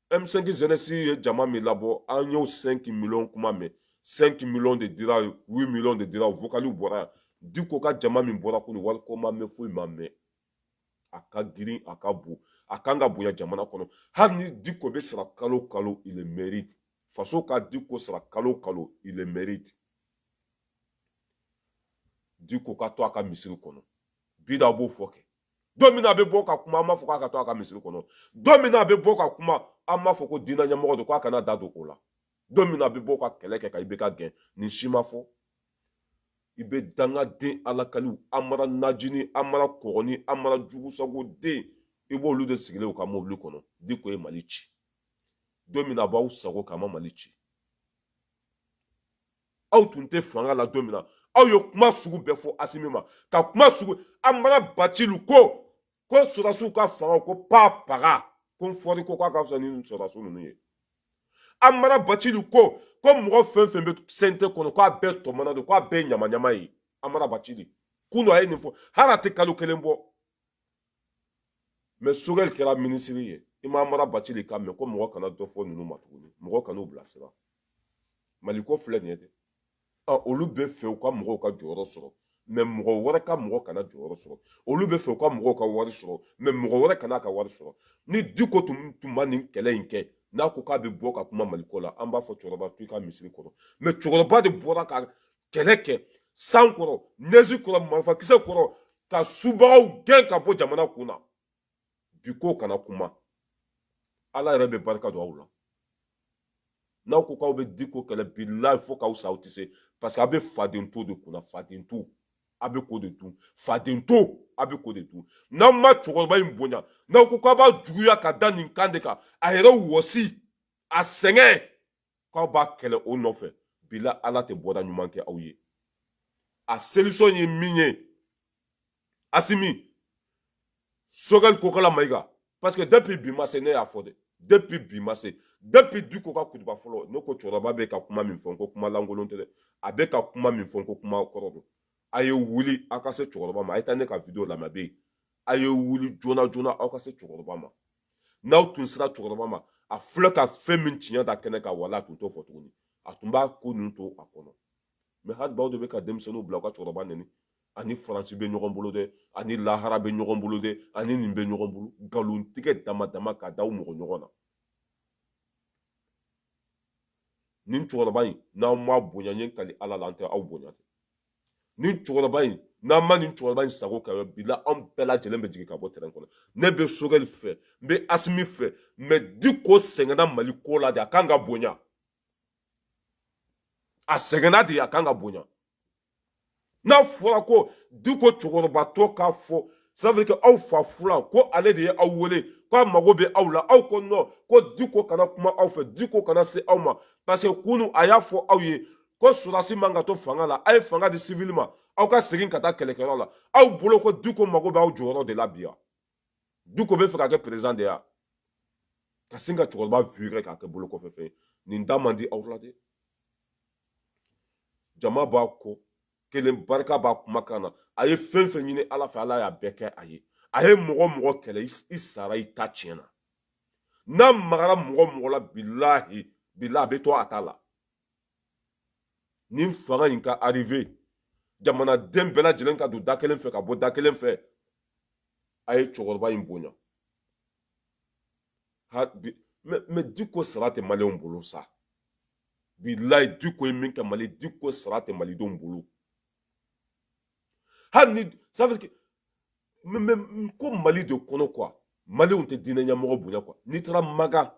m5 jeunesse ye jama min labɔ an y'o 5 millions kuma mɛn 5 millions de dira 8 millions de dira o vocaliw bɔra yan diko ka jama min bɔra kunu wari ko ma mɛn foyi ma mɛn a ka girin a ka bon a kan ka bonya jamana kɔnɔ hali ni diko bɛ sara kalo kalo il mérite faso ka diko sara kalo kalo il mérite diko ka to a ka misiri kɔnɔ bi d'aw b'o fɔ kɛ don min na a bɛ bɔ ka kuma aw m'a fɔ k'a ka to a ka misiri kɔnɔ don min na a bɛ bɔ ka kuma aw m'a fɔ ko diinɛ ɲɛmɔgɔ don k'a kana da don o la don min na a bɛ bɔ ka kɛlɛ kɛ ka ibk gɛn nin si ma fɔ i bɛ dangaden alakaliw amara najini amara kɔgɔni amara jugusago den i b'olu de sigilen u ka mobili kɔnɔ diko ye mali ci don min na a b'aw sago k'a ma mali ci aw tun tɛ fanga la don min na aw ye kuma sugu bɛɛ fɔ asimi ma ka kuma sugu amara bacili ko ko sɔrɔdasiw ka fanga ko pa paga ko n fɔri ko k'a ka fisa ni sɔrɔdasi ninnu ye amara bacili ko ko mɔgɔ fɛn fɛn bɛ cnt kɔnɔ k'a bɛɛ tɔmɔnen don k'a bɛɛ ɲamaɲama ye amara bacili kunu a ye nin fɔ hali a tɛ kalo kelen bɔ mais sogɛli kɛra minisiri ye i ma amara bacili kan mɛn ko mɔgɔ kana dɔ fɔ ninnu ma tuguni mɔgɔ kan'u bilasira mali ko filɛ nin ye dɛ olu bɛ fɛ u ka mɔgɔw ka jɔyɔrɔ sɔrɔ mais mɔgɔ wɛrɛ ka mɔgɔ kana jɔyɔrɔ sɔrɔ olu bɛ fɛ u ka mɔgɔw ka wari sɔrɔ mais mɔgɔ wɛrɛ kana ka wari sɔrɔ ni diko tun ma nin kɛlɛ in kɛ n'a ko k'a bɛ bɔ ka kuma maliko la an b'a fɔ cɛkɔrɔba to i ka misiri kɔrɔ mais cɛkɔrɔba de bɔra ka kɛlɛ kɛ san kɔrɔ nɛzi kɔrɔ marifakisɛ kɔrɔ ka subagaw gɛn ka bɔ jamana kun na bi ko kana kuma ala yɛrɛ bɛ barika don aw la n'aw ko k'aw bɛ diko kɛlɛ bilayi fo k'aw sa aw tɛ se parce que aw bɛ faden to de kunna faden to a bɛ k'o de dun faden to a bɛ k'o de dun n'aw ma cɛkɔrɔba in bonya n'aw ko k'aw b'a juguya ka da nin kan de kan a yɛrɛ wɔsi a sɛgɛn k'aw b'a kɛlɛ o nɔfɛ bilayi ala tɛ bɔda ɲuman kɛ aw ye a solution ye min ye asimi sogɛli kokala mayiga parce que depuis bi ma se ne y'a fɔ dɛ depuis bi ma se depuis diko ka kutuba fɔlɔ ne ko cɛkɔrɔba bɛ ka kuma min fɔ ko kuma lankolon tɛ dɛ a bɛ ka kuma min fɔ ko kuma kɔrɔ don a ye wuli a ka se cɛkɔrɔba ma a ye taa ne ka video lamɛn a bɛ yen a ye wuli joona joona aw ka se cɛkɔrɔba ma n'aw tun sera cɛkɔrɔba ma a filɛ ka fɛn min tiɲɛ da kɛnɛ kan wala a tun t'o fɔ tuguni a tun b'a ko ninnu to a kɔnɔ mais hali bi aw de bɛ ka denmisɛnninw bila u ka cɛkɔrɔba nɛni a ni faransi bɛ ɲɔgɔn bolo dɛ a ni lahara bɛ ɲɔgɔn bolo dɛ a ni nin bɛ ɲɔgɔn bolo nkalontigɛ dama dama ka da aw mɔgɔ ɲɔgɔn na nin cɛkɔrɔba in n'aw m'a bonya n ye kali ala la an tɛ aw bonya tɛ nin cɛkɔrɔba in n'an ma nin cɛkɔrɔba in sago kɛ bila anw bɛɛ lajɛlen bɛ jigin ka bɔ tɛrɛn kɔnɔ ne bɛ sogɛli fɛ n bɛ asimi fɛ mais diko sɛgɛnna mali ko la de a kan ka bonya a sɛgɛnna de a kan ka bonya n'a fɔra ko diko cɛkɔrɔbatɔ k'a fɔ ça veut dire que aw fa fulan ko ale de ye aw wele ko a mago bɛ aw la aw ko non ko diko kana kuma aw fɛ diko kana se aw ma parce que kunun a y'a fɔ aw ye ko sɔrɔdasi man ka to fanga la a ye fanga di sivili ma aw ka segin ka taa kɛlɛkɛyɔrɔ la aw bolo ko diko mago bɛ aw jɔyɔrɔ de la bi wa diko bɛ fɛ ka kɛ président de ye ka sin ka cɛkɔrɔba virer k'a kɛ bolokɔfɛfɛn nin da man di aw la dɛ jama b'a kɔ kelen barika b'a kumakan na a ye fɛn fɛn ɲini ala fɛ ala y'a bɛɛ kɛ a ye a ye mɔgɔ mɔgɔ kɛlɛ i sara i ta tiɲɛna n'a magara mɔgɔ mɔgɔ la bilahi bila a bɛ to a ta la nin fanga in ka arriver jamanaden bɛɛ lajɛlen ka don da kelen fɛ ka bɔ da kelen fɛ a ye cɛkɔrɔba in bonya mais diko sara tɛ maliyɛnw bolo sa bilayi diko ye min kɛ mali diko sara tɛ malidenw bolo hali ni ça veut dire que ko mali de kɔnɔ quoi maliyɛnw tɛ diinɛ ɲɛmɔgɔ bonya quoi n'i taara maga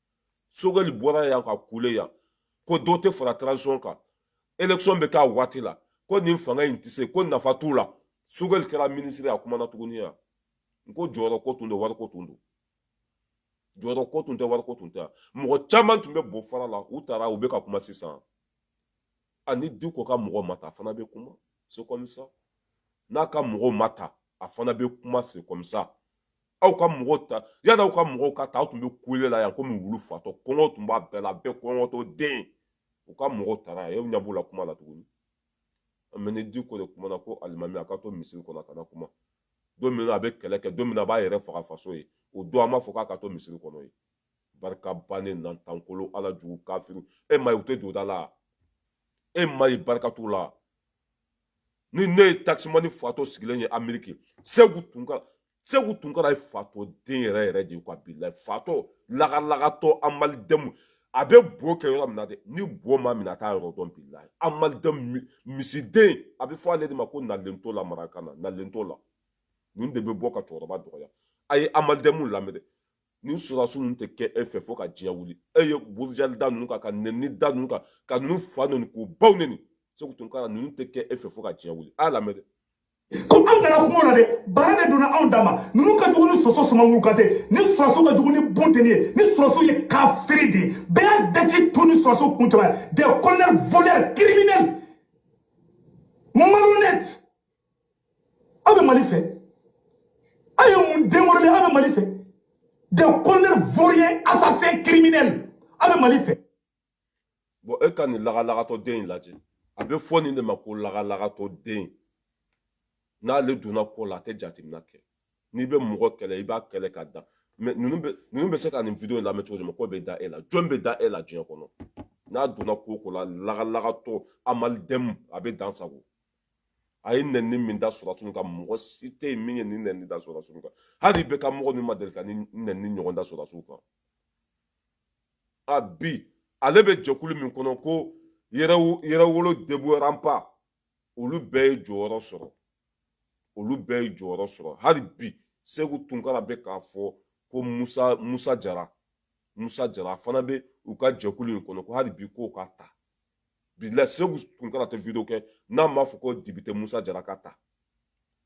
sogɛli bɔra yan ka kule yan ko dɔ tɛ fara transition kan élection bɛ k'a waati la ko nin fanga in tɛ se ko nafa t'u la sogɛli kɛra minisiri a kumana tuguni yan n ko jɔyɔrɔ ko tun don wariko tun don jɔyɔrɔ ko tun tɛ wariko tun tɛ mɔgɔ caman tun bɛ bɔ fara la u tara u bɛ ka kuma sisan ani diko ka mɔgɔ ma ta a fana bɛ kuma c'est comme ça n'a ka mɔgɔw ma ta a fana bɛ kuma c'est comme ça aw ka mɔgɔw ta yanni aw ka mɔgɔw ka ta aw tun bɛ kule la yan komi wulu fatɔ kɔngɔ tun b'a bɛɛ la bɛɛ kɔngɔtɔ den u ka mɔgɔw tara yan e ɲɛ b'u la kuma la tuguni mais ni diko de kumana ko alimami a ka to misiri kɔnɔ a kana kuma don min na a bɛ kɛlɛ kɛ don min na a b'a yɛrɛ faga faso ye o don an b'a fɔ k'a ka to misiri kɔnɔ ye barika bannen nantankolo ala jugu kafiru e ma ye u tɛ donda la e ma ye barika t'u la nin ye takisimani fatɔ sigilen ye ameriki segu tunka segu tunkara ye fatɔ den yɛrɛ yɛrɛ de ye ka bilayi fatɔ lagalagatɔ amalidɛmu a bɛ bo kɛ yɔrɔ min na dɛ ni bo m'a minɛ a t'a yɔrɔ dɔn bilayi amalidɛmu misiden a bɛ fɔ ale de ma ko nalento la marakan na nalento la nin de bɛ bɔ ka cɛkɔrɔba dɔgɔya a ye amalidɛmu lamɛn dɛ nin sɔrɔdasi ninnu tɛ kɛ e fɛ fo ka diɲɛ wuli e ye burujali da ninnu kan ka nɛni da ninnu kan ka ninnu fa nɛni k'u baw nɛni segu tunkara ninnu tɛ kɛ e fɛ fo ka diɲɛ wuli a y'a lamɛn dɛ comme an kana kuma o la dɛ baara de donna anw dama ninnu ka jugu ni soso sumanguru kantɛ ni sɔrɔsiw ka jugu ni bunteni ye ni sɔrɔsiw ye kafiri de ye bɛɛ y'a daji tu ni sɔrɔsiw kuncɛ ma des colonels voleurs criminels malhonnêtes aw bɛ mali fɛ aw ye mun den wololen aw bɛ mali fɛ des colonels vauriens assassins criminels aw bɛ mali fɛ bɔn e ka nin lagalagatɔ den in lajɛ a bɛ fɔ nin de ma ko lagalagatɔ den n'ale donna ko la a tɛ jateminɛ kɛ n'i bɛ mɔgɔ kɛlɛ i b'a kɛlɛ ka dan mais ninnu bɛ ninnu bɛ se ka nin video lamɛn cogo di mɔgɔ bɛ da e la jɔn bɛ da e la diɲɛ kɔnɔ n'a donna ko ko la lagalagatɔ amalidɛmu a bɛ dan sagon a ye nɛni min da sɔrɔdasiw kan mɔgɔ si tɛ yen min ye nin nɛni da sɔrɔdasiw kan hali IBK mɔgɔ ninnu ma deli ka nin nɛni ɲɔgɔn da sɔrɔdasiw kan a bi ale bɛ jɛkulu min kɔnɔ ko yɛrɛwolo debout remparts olu bɛɛ ye jɔyɔrɔ sɔrɔ olu bɛɛ ye jɔyɔrɔ sɔrɔ hali bi segu tunkara bɛ k'a fɔ ko musa musa jara musa jara fana bɛ u ka jɛkulu in kɔnɔ ko hali bi k'o ka ta bilahi segu tunkara tɛ video kɛ n'a m'a fɔ ko député musa jara ka ta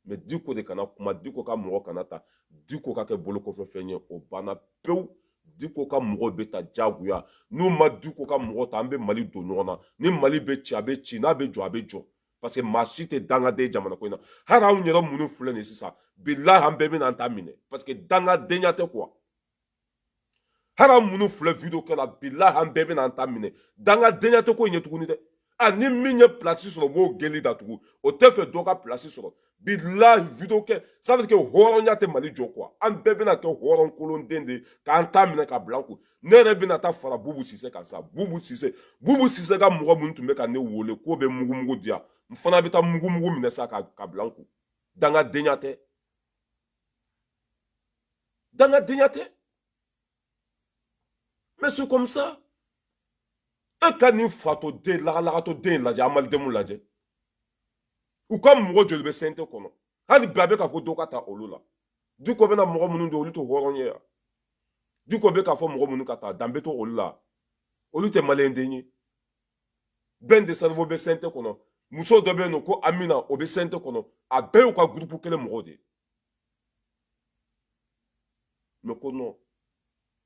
mais diko de kana kuma diko ka mɔgɔ kana ta diko ka kɛ bolokɔfɛfɛn ye o banna pewu diko ka mɔgɔ bɛ ta jagoya n'u ma diko ka mɔgɔ ta an bɛ mali don ɲɔgɔn na ni mali bɛ ci a bɛ ci n'a bɛ jɔ a bɛ jɔ parce que maa si tɛ dangaden jamana ko in na hali anw yɛrɛ minnu filɛ nin sisan bilahi an bɛɛ bɛna an ta minɛ parce que dangadenya tɛ quoi hali an minnu filɛ video kɛ la bilahi an bɛɛ bɛna an ta minɛ dangadenya tɛ ko in ye tuguni dɛ a ni min ye pilasi sɔrɔ o b'o gueule datugu o tɛ fɛ dɔ ka pilasi sɔrɔ bilahi video kɛ ça veut dire que hɔrɔnya tɛ mali jɔ quoi an bɛɛ bɛna kɛ hɔrɔn kolonden de k'an ta minɛ ka bila an kun ne yɛrɛ bɛna taa fara bubu sise kan sa bubu sise bubu sise ka mɔgɔ minnu tun bɛ ka ne wele k'o bɛ mugumugu di yan n fana bɛ taa mugumugu minɛ sa ka bila n kun dangadenya tɛ dangadenya tɛ mais c'est comme ça e ka nin fatɔ den lagalagatɔ den lajɛ amalidɛmu lajɛ u ka mɔgɔ joli bɛ cnt kɔnɔ hali bi a bɛ k'a fɔ dɔ ka ta olu la diko bɛna mɔgɔ minnu don olu tɛ hɔrɔn ye yan diko bɛ k'a fɔ mɔgɔ minnu ka taa danbe to olu la olu tɛ maliyɛn den ye ben le cerveau bɛ cnt kɔnɔ muso dɔ bɛ yen nɔ ko amina o bɛ cnt kɔnɔ a bɛɛ y'u ka gurupu kelen mɔgɔw de ye mais ko non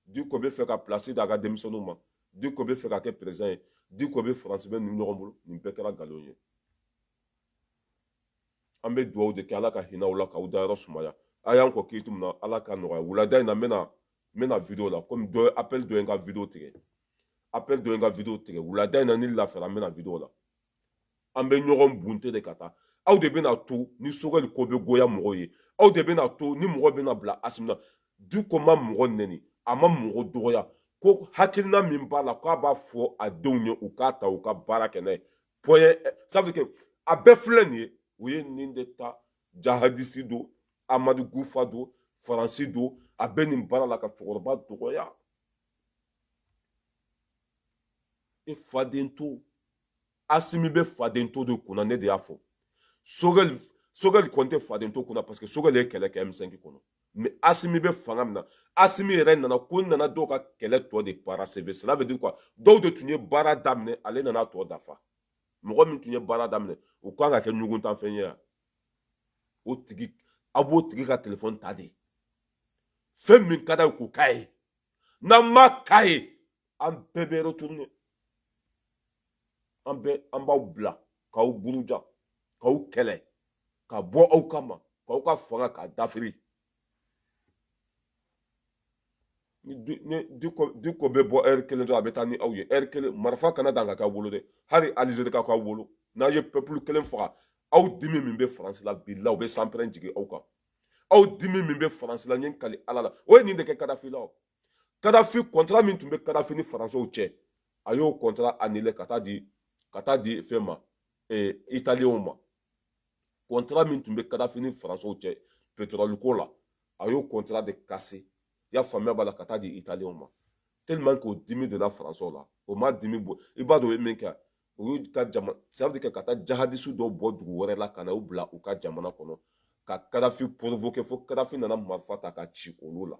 diko bɛ fɛ ka pilasi d'a ka denmisɛnninw ma diko bɛ fɛ ka kɛ perezidan ye diko bɛ faransi bɛ ninnu ɲɔgɔn bolo nin bɛɛ kɛra nkalon ye an bɛ dugawu de kɛ ala ka hinɛ aw la k'aw dayɔrɔ sumaya a y'an kɔn kiiti min na ala ka nɔgɔya wulada in na n bɛna n bɛna video la komi dɔ apɛli dɔ ye n ka video tigɛ apɛli dɔ ye n ka video tigɛ wulada in na ni n lafiyara n bɛna video la an bɛ ɲɔgɔn bunte de ka taa aw de bɛna to ni sogɛli ko bɛ goya mɔgɔw ye aw de bɛna to ni mɔgɔ bɛna bila asimi na diko ma mɔgɔ nɛni a ma mɔgɔ dɔgɔya ko hakilina min b'a la k'a b'a fɔ a denw ye u k'a ta u ka baara kɛ n'a ye point ça veut dire que a bɛɛ filɛ nin ye u ye nin de ta jahadisi don amadu kufa don faransi don a bɛ nin baara la ka cɛkɔrɔba dɔgɔya e faden to asimi bɛ faden to de kunna ne de y'a fɔ sogɛli sogɛli kɔni tɛ faden to kunna parce que sogɛli ye kɛlɛ kɛ m5 kɔnɔ mais asimi bɛ fanga min na asimi yɛrɛ nana ko nana dɔw ka kɛlɛ tɔ de parachever cela veut dire quoi dɔw de tun ye baara daminɛ ale nana tɔ dafa mɔgɔ min tun ye baara daminɛ o kan ka kɛ ɲuguntanfɛn ye yan o tigi a b'o tigi ka telefɔni ta de fɛn min ka d'a ye k'o k'a ye n'a ma k'a ye an bɛɛ bɛ retourner an bɛɛ an b'aw bila k'aw buruja k'aw kɛlɛ ka bɔ aw kama k'aw ka fanga k'a dafiri ni diko bɛ bɔ ɛri kelen dɔrɔn a bɛ taa ni aw ye ɛri kelen marifa kana dan ka k'aw bolo dɛ hali alizeri ka k'aw bolo n'a ye peuple kelen faga aw dimi min bɛ faransi la bilahi u bɛ sanpɛrɛn jigin aw kan aw dimi min bɛ faransi la n ye n kali ala la o ye nin de kɛ kadafi la o kadafi kɔntara min tun bɛ kadafi ni faransiw cɛ a y'o kɔntara anile ka taa di ka taa di fɛn ma eh, italienw ma kɔntara min tun bɛ kadafi ni faransiw cɛ petrɔli ko la a y'o kɔntara de kase i y'a faamuya b'a la ka taa di italienw ma tellement k'o dimi donna faransiw la o ma dimi bɔ i b'a dɔn o ye min kɛ u y'u ka jama ça veut dire que ka taa jahadisi dɔ bɔ dugu wɛrɛ la ka na u bila u ka jamana kɔnɔ ka kadafi porovoke fo kadafi nana marifa ta ka ci olu la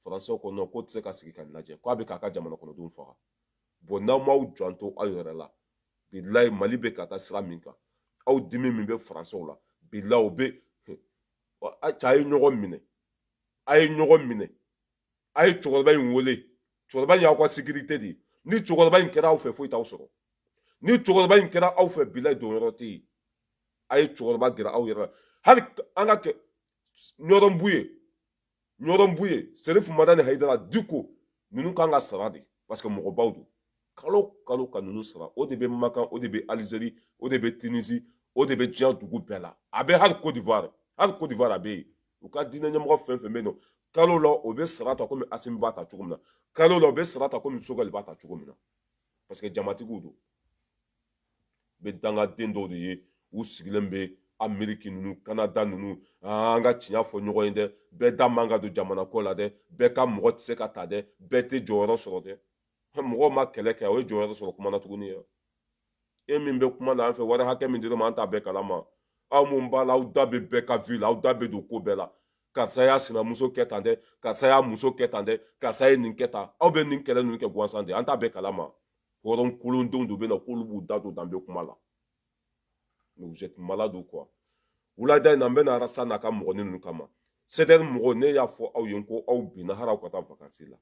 faransɛw ko nɔn k'o tɛ se ka sigi ka lajɛ k'a bɛ k'a ka jamana kɔnɔdenw faga bɔn n'aw m'aw janto aw yɛrɛ la bilayi mali bɛ ka taa sira min kan aw dimi min bɛ faransɛw la bilayi o bɛ ca a ye ɲɔgɔn minɛ a ye ɲɔgɔn minɛ a ye cɛkɔrɔba in wele cɛkɔrɔba in y'aw ka sikirite de ye ni cɛkɔrɔba in kɛra aw fɛ foyi t'aw sɔrɔ ni cɛkɔrɔba in kɛra aw fɛ bilayi donyɔrɔ tɛ yen a ye cɛkɔrɔba gɛrɛ aw yɛrɛ la hali an ka kɛ ɲɔrɔn buye ɲɔrɔn buye serifu madani hayidara diko ninnu kan ka sara de parce que mɔgɔbaw don kalo kalo ka ninnu sara o de bɛ makan o de bɛ alizeri o de bɛ tinisi o de bɛ diɲɛ dugu bɛɛ la a bɛ hali kodivuwari hali kodivuwari a bɛ yen u ka diinɛ ɲɛmɔgɔ fɛn fɛn bɛ yen nɔ kalo la o bɛ sara ta komi asimi b'a ta cogo min na kalo la o bɛ sara ta komi sogɛli b'a ta cogo min na parce que jamatigiw don u bɛ dangaden dɔw de ye u sigilen bɛ ameriki ninnu kanada ninnu an ka tiɲɛ fɔ ɲɔgɔn ye dɛ bɛɛ da man ka don jamana ko la dɛ bɛɛ ka mɔgɔ tɛ se ka ta dɛ bɛɛ tɛ jɔyɔrɔ sɔrɔ dɛ mɔgɔw ma kɛlɛ kɛ o ye jɔyɔrɔ sɔrɔ kuma na tuguni ye e min bɛ kuma na an fɛ wari hakɛ min dir'a ma an t'a bɛɛ kalama aw mun b'a la aw da bɛ bɛɛ ka vi la aw da bɛ don ko bɛɛ la karisa y'a sinamuso kɛ tan dɛ karisa y'a muso kɛ tan dɛ karisa ye nin kɛ tan aw bɛ nin kɛlɛ ninnu kɛ gansan de an t'a bɛɛ kalama hɔrɔn kolondenw de bɛ na k'olu b'u da don danbe kuma la mais vous êtes malade ou quoi wulada in na n bɛna arasa n'a ka mɔgɔnin ninnu kama sɛdɛri mɔgɔw ne y'a fɔ aw ye ko aw binna hali aw ka taa vakansi la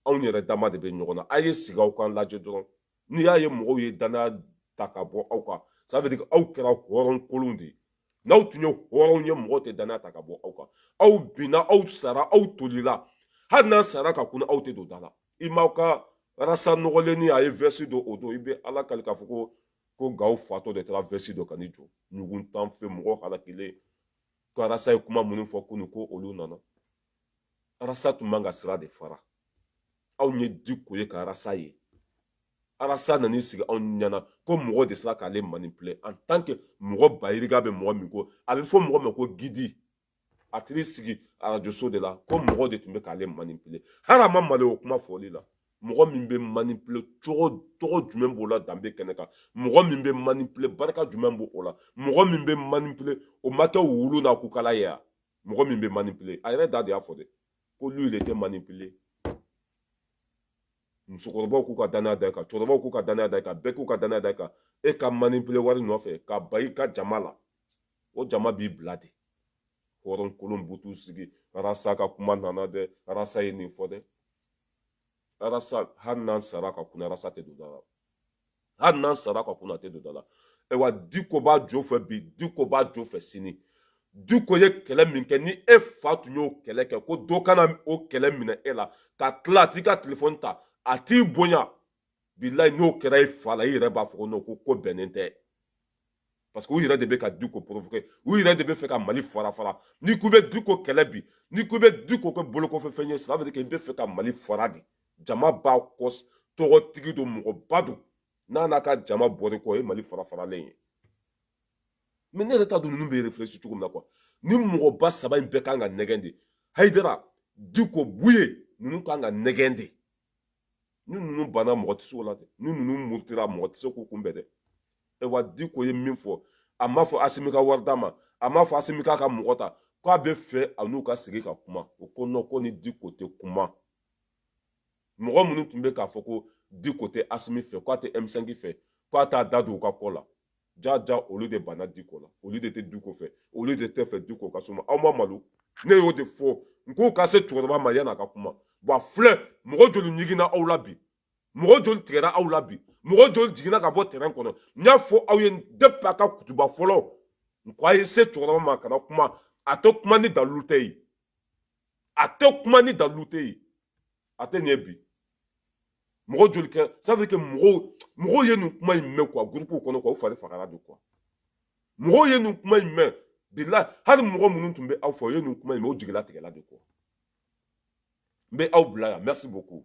aw yɛrɛ dama de bɛ ɲɔgɔn na a ye sigi aw k'a lajɛ dɔrɔn n'i y'a ye mɔgɔw ye danaya ta ka bɔ aw kan ça veut dire aw kɛra hɔrɔn kolon de ye n'aw tun ye hɔrɔnw ye mɔgɔw tɛ danaya ta ka bɔ aw kan aw binna aw sara aw tolila hali n'aw sara ka kunun aw tɛ don da la i m'aw ka rasa nɔgɔlennin a ye vɛsi don o don i bɛ ala kali k'a fɔ ko ko gawo fatɔ de taara vɛsi don ka n'i jɔ ɲugun tan fɛ mɔgɔ halakilen k'arasa ye kuma minnu fɔ kunu ko olu nana arasa tun man ka sira de fara aw ye diko ye ka arasa ye arasa nan'i sigi anw ɲɛna ko mɔgɔ de sera k'ale manipule en tant que mɔgɔ bayiriga bɛ mɔgɔ min ko a bɛ fɔ mɔgɔ ma ko gidi a taar'i sigi arajoso de la ko mɔgɔ de tun bɛ k'ale manipule hali a ma malo o kuma fɔli la mɔgɔ min bɛ manipule cogo tɔgɔ jumɛn b'o la danbe kɛnɛ kan mɔgɔ min bɛ manipule barika jumɛn b'o la mɔgɔ min bɛ manipule o ma kɛ wulu n'a kukala ye wa mɔgɔ min bɛ manipule a yɛrɛ da de y'a fɔ dɛ ko lui il était manipulé musokɔrɔbaw k'u ka danaya da i kan cɛkɔrɔbaw k'u ka danaya da i kan bɛɛ k'u ka danaya da i kan e ka manipule wari nɔfɛ ka ban i ka jama la o jama b'i bila de hɔrɔn kolon butu sigi arasa ka kuma nana dɛ arasa ye nin fɔ dɛ arasa hali n'an sara ka kunna arasa tɛ don da la hali n'an sara ka kunna tɛ don da la ayiwa diko b'a jo fɛ bi diko b'a jo fɛ sini diko ye kɛlɛ min kɛ ni e fa tun y'o kɛlɛ kɛ ko dɔ ka na o kɛlɛ minɛ e la ka tila a t'i ka telefɔni ta a t'i bonya bilayi n'o kɛra i fa la i yɛrɛ b'a fɔ ko non ko bɛnnen tɛ parce que u yɛrɛ de bɛ ka diko provoquer u yɛrɛ de bɛ fɛ ka mali fara fara n'i ko i bɛ diko kɛlɛ bi n'i ko i bɛ diko kɛ bolokɔfɛfɛn ye ça veut dire que i bɛ fɛ ka mali fara de jama b'a kɔ tɔgɔtigi don mɔgɔba don n'a n'a ka jama bɔr'i kɔ o ye mali fara faralen ye mais ne yɛrɛ t'a dɔn ninnu bɛ réfléchir cogo min na quoi nin mɔgɔba saba in bɛɛ kan ka nɛgɛn de hayidara diko buye ninnu kan ka nɛgɛn de ni ninnu banna mɔgɔ tɛ se o la dɛ ni ninnu murutira mɔgɔ tɛ se k'u kunbɛn dɛ ayiwa diko ye min fɔ a m'a fɔ asimi ka wari d'a ma a m'a fɔ asimi k'a ka mɔgɔ ta k'a bɛ fɛ a n'u ka sigi ka kuma o ko non ko ni diko tɛ kuma mɔgɔ minnu tun bɛ k'a fɔ ko diko tɛ asimi fɛ k'a tɛ m5 fɛ k'a t'a da don u ka ko la jaja olu de banna diko la olu de tɛ diko fɛ olu de tɛ fɛ diko ka suma aw ma malo ne y'o de fɔ n k'o ka se cɛkɔrɔba ma yan'a ka kuma bon filɛ mɔgɔ joli ɲiginna aw la bi mɔgɔ joli tigɛra aw la bi mɔgɔ joli jiginna ka bɔ tɛrɛn kɔnɔ n y'a fɔ aw ye depuis a ka kutuba fɔlɔ n ko a ye se cɛkɔrɔba ma kana kuma a tɛ kuma ni dalilu tɛ yen a tɛ kuma ni dalilu tɛ yen a tɛ nin ye bi mɔgɔ joli kɛ sabu kɛ mɔgɔw mɔgɔw ye nin kuma in mɛn quoi gurupuw kɔnɔ quoi u fari fagara de quoi mɔgɔw ye nin kuma in mɛn bilayi hali mɔgɔ minnu tun bɛ aw fɛ o ye nin kuma in mɛn o jigilatigɛla de quoi n bɛ aw bila yan merci beaucoup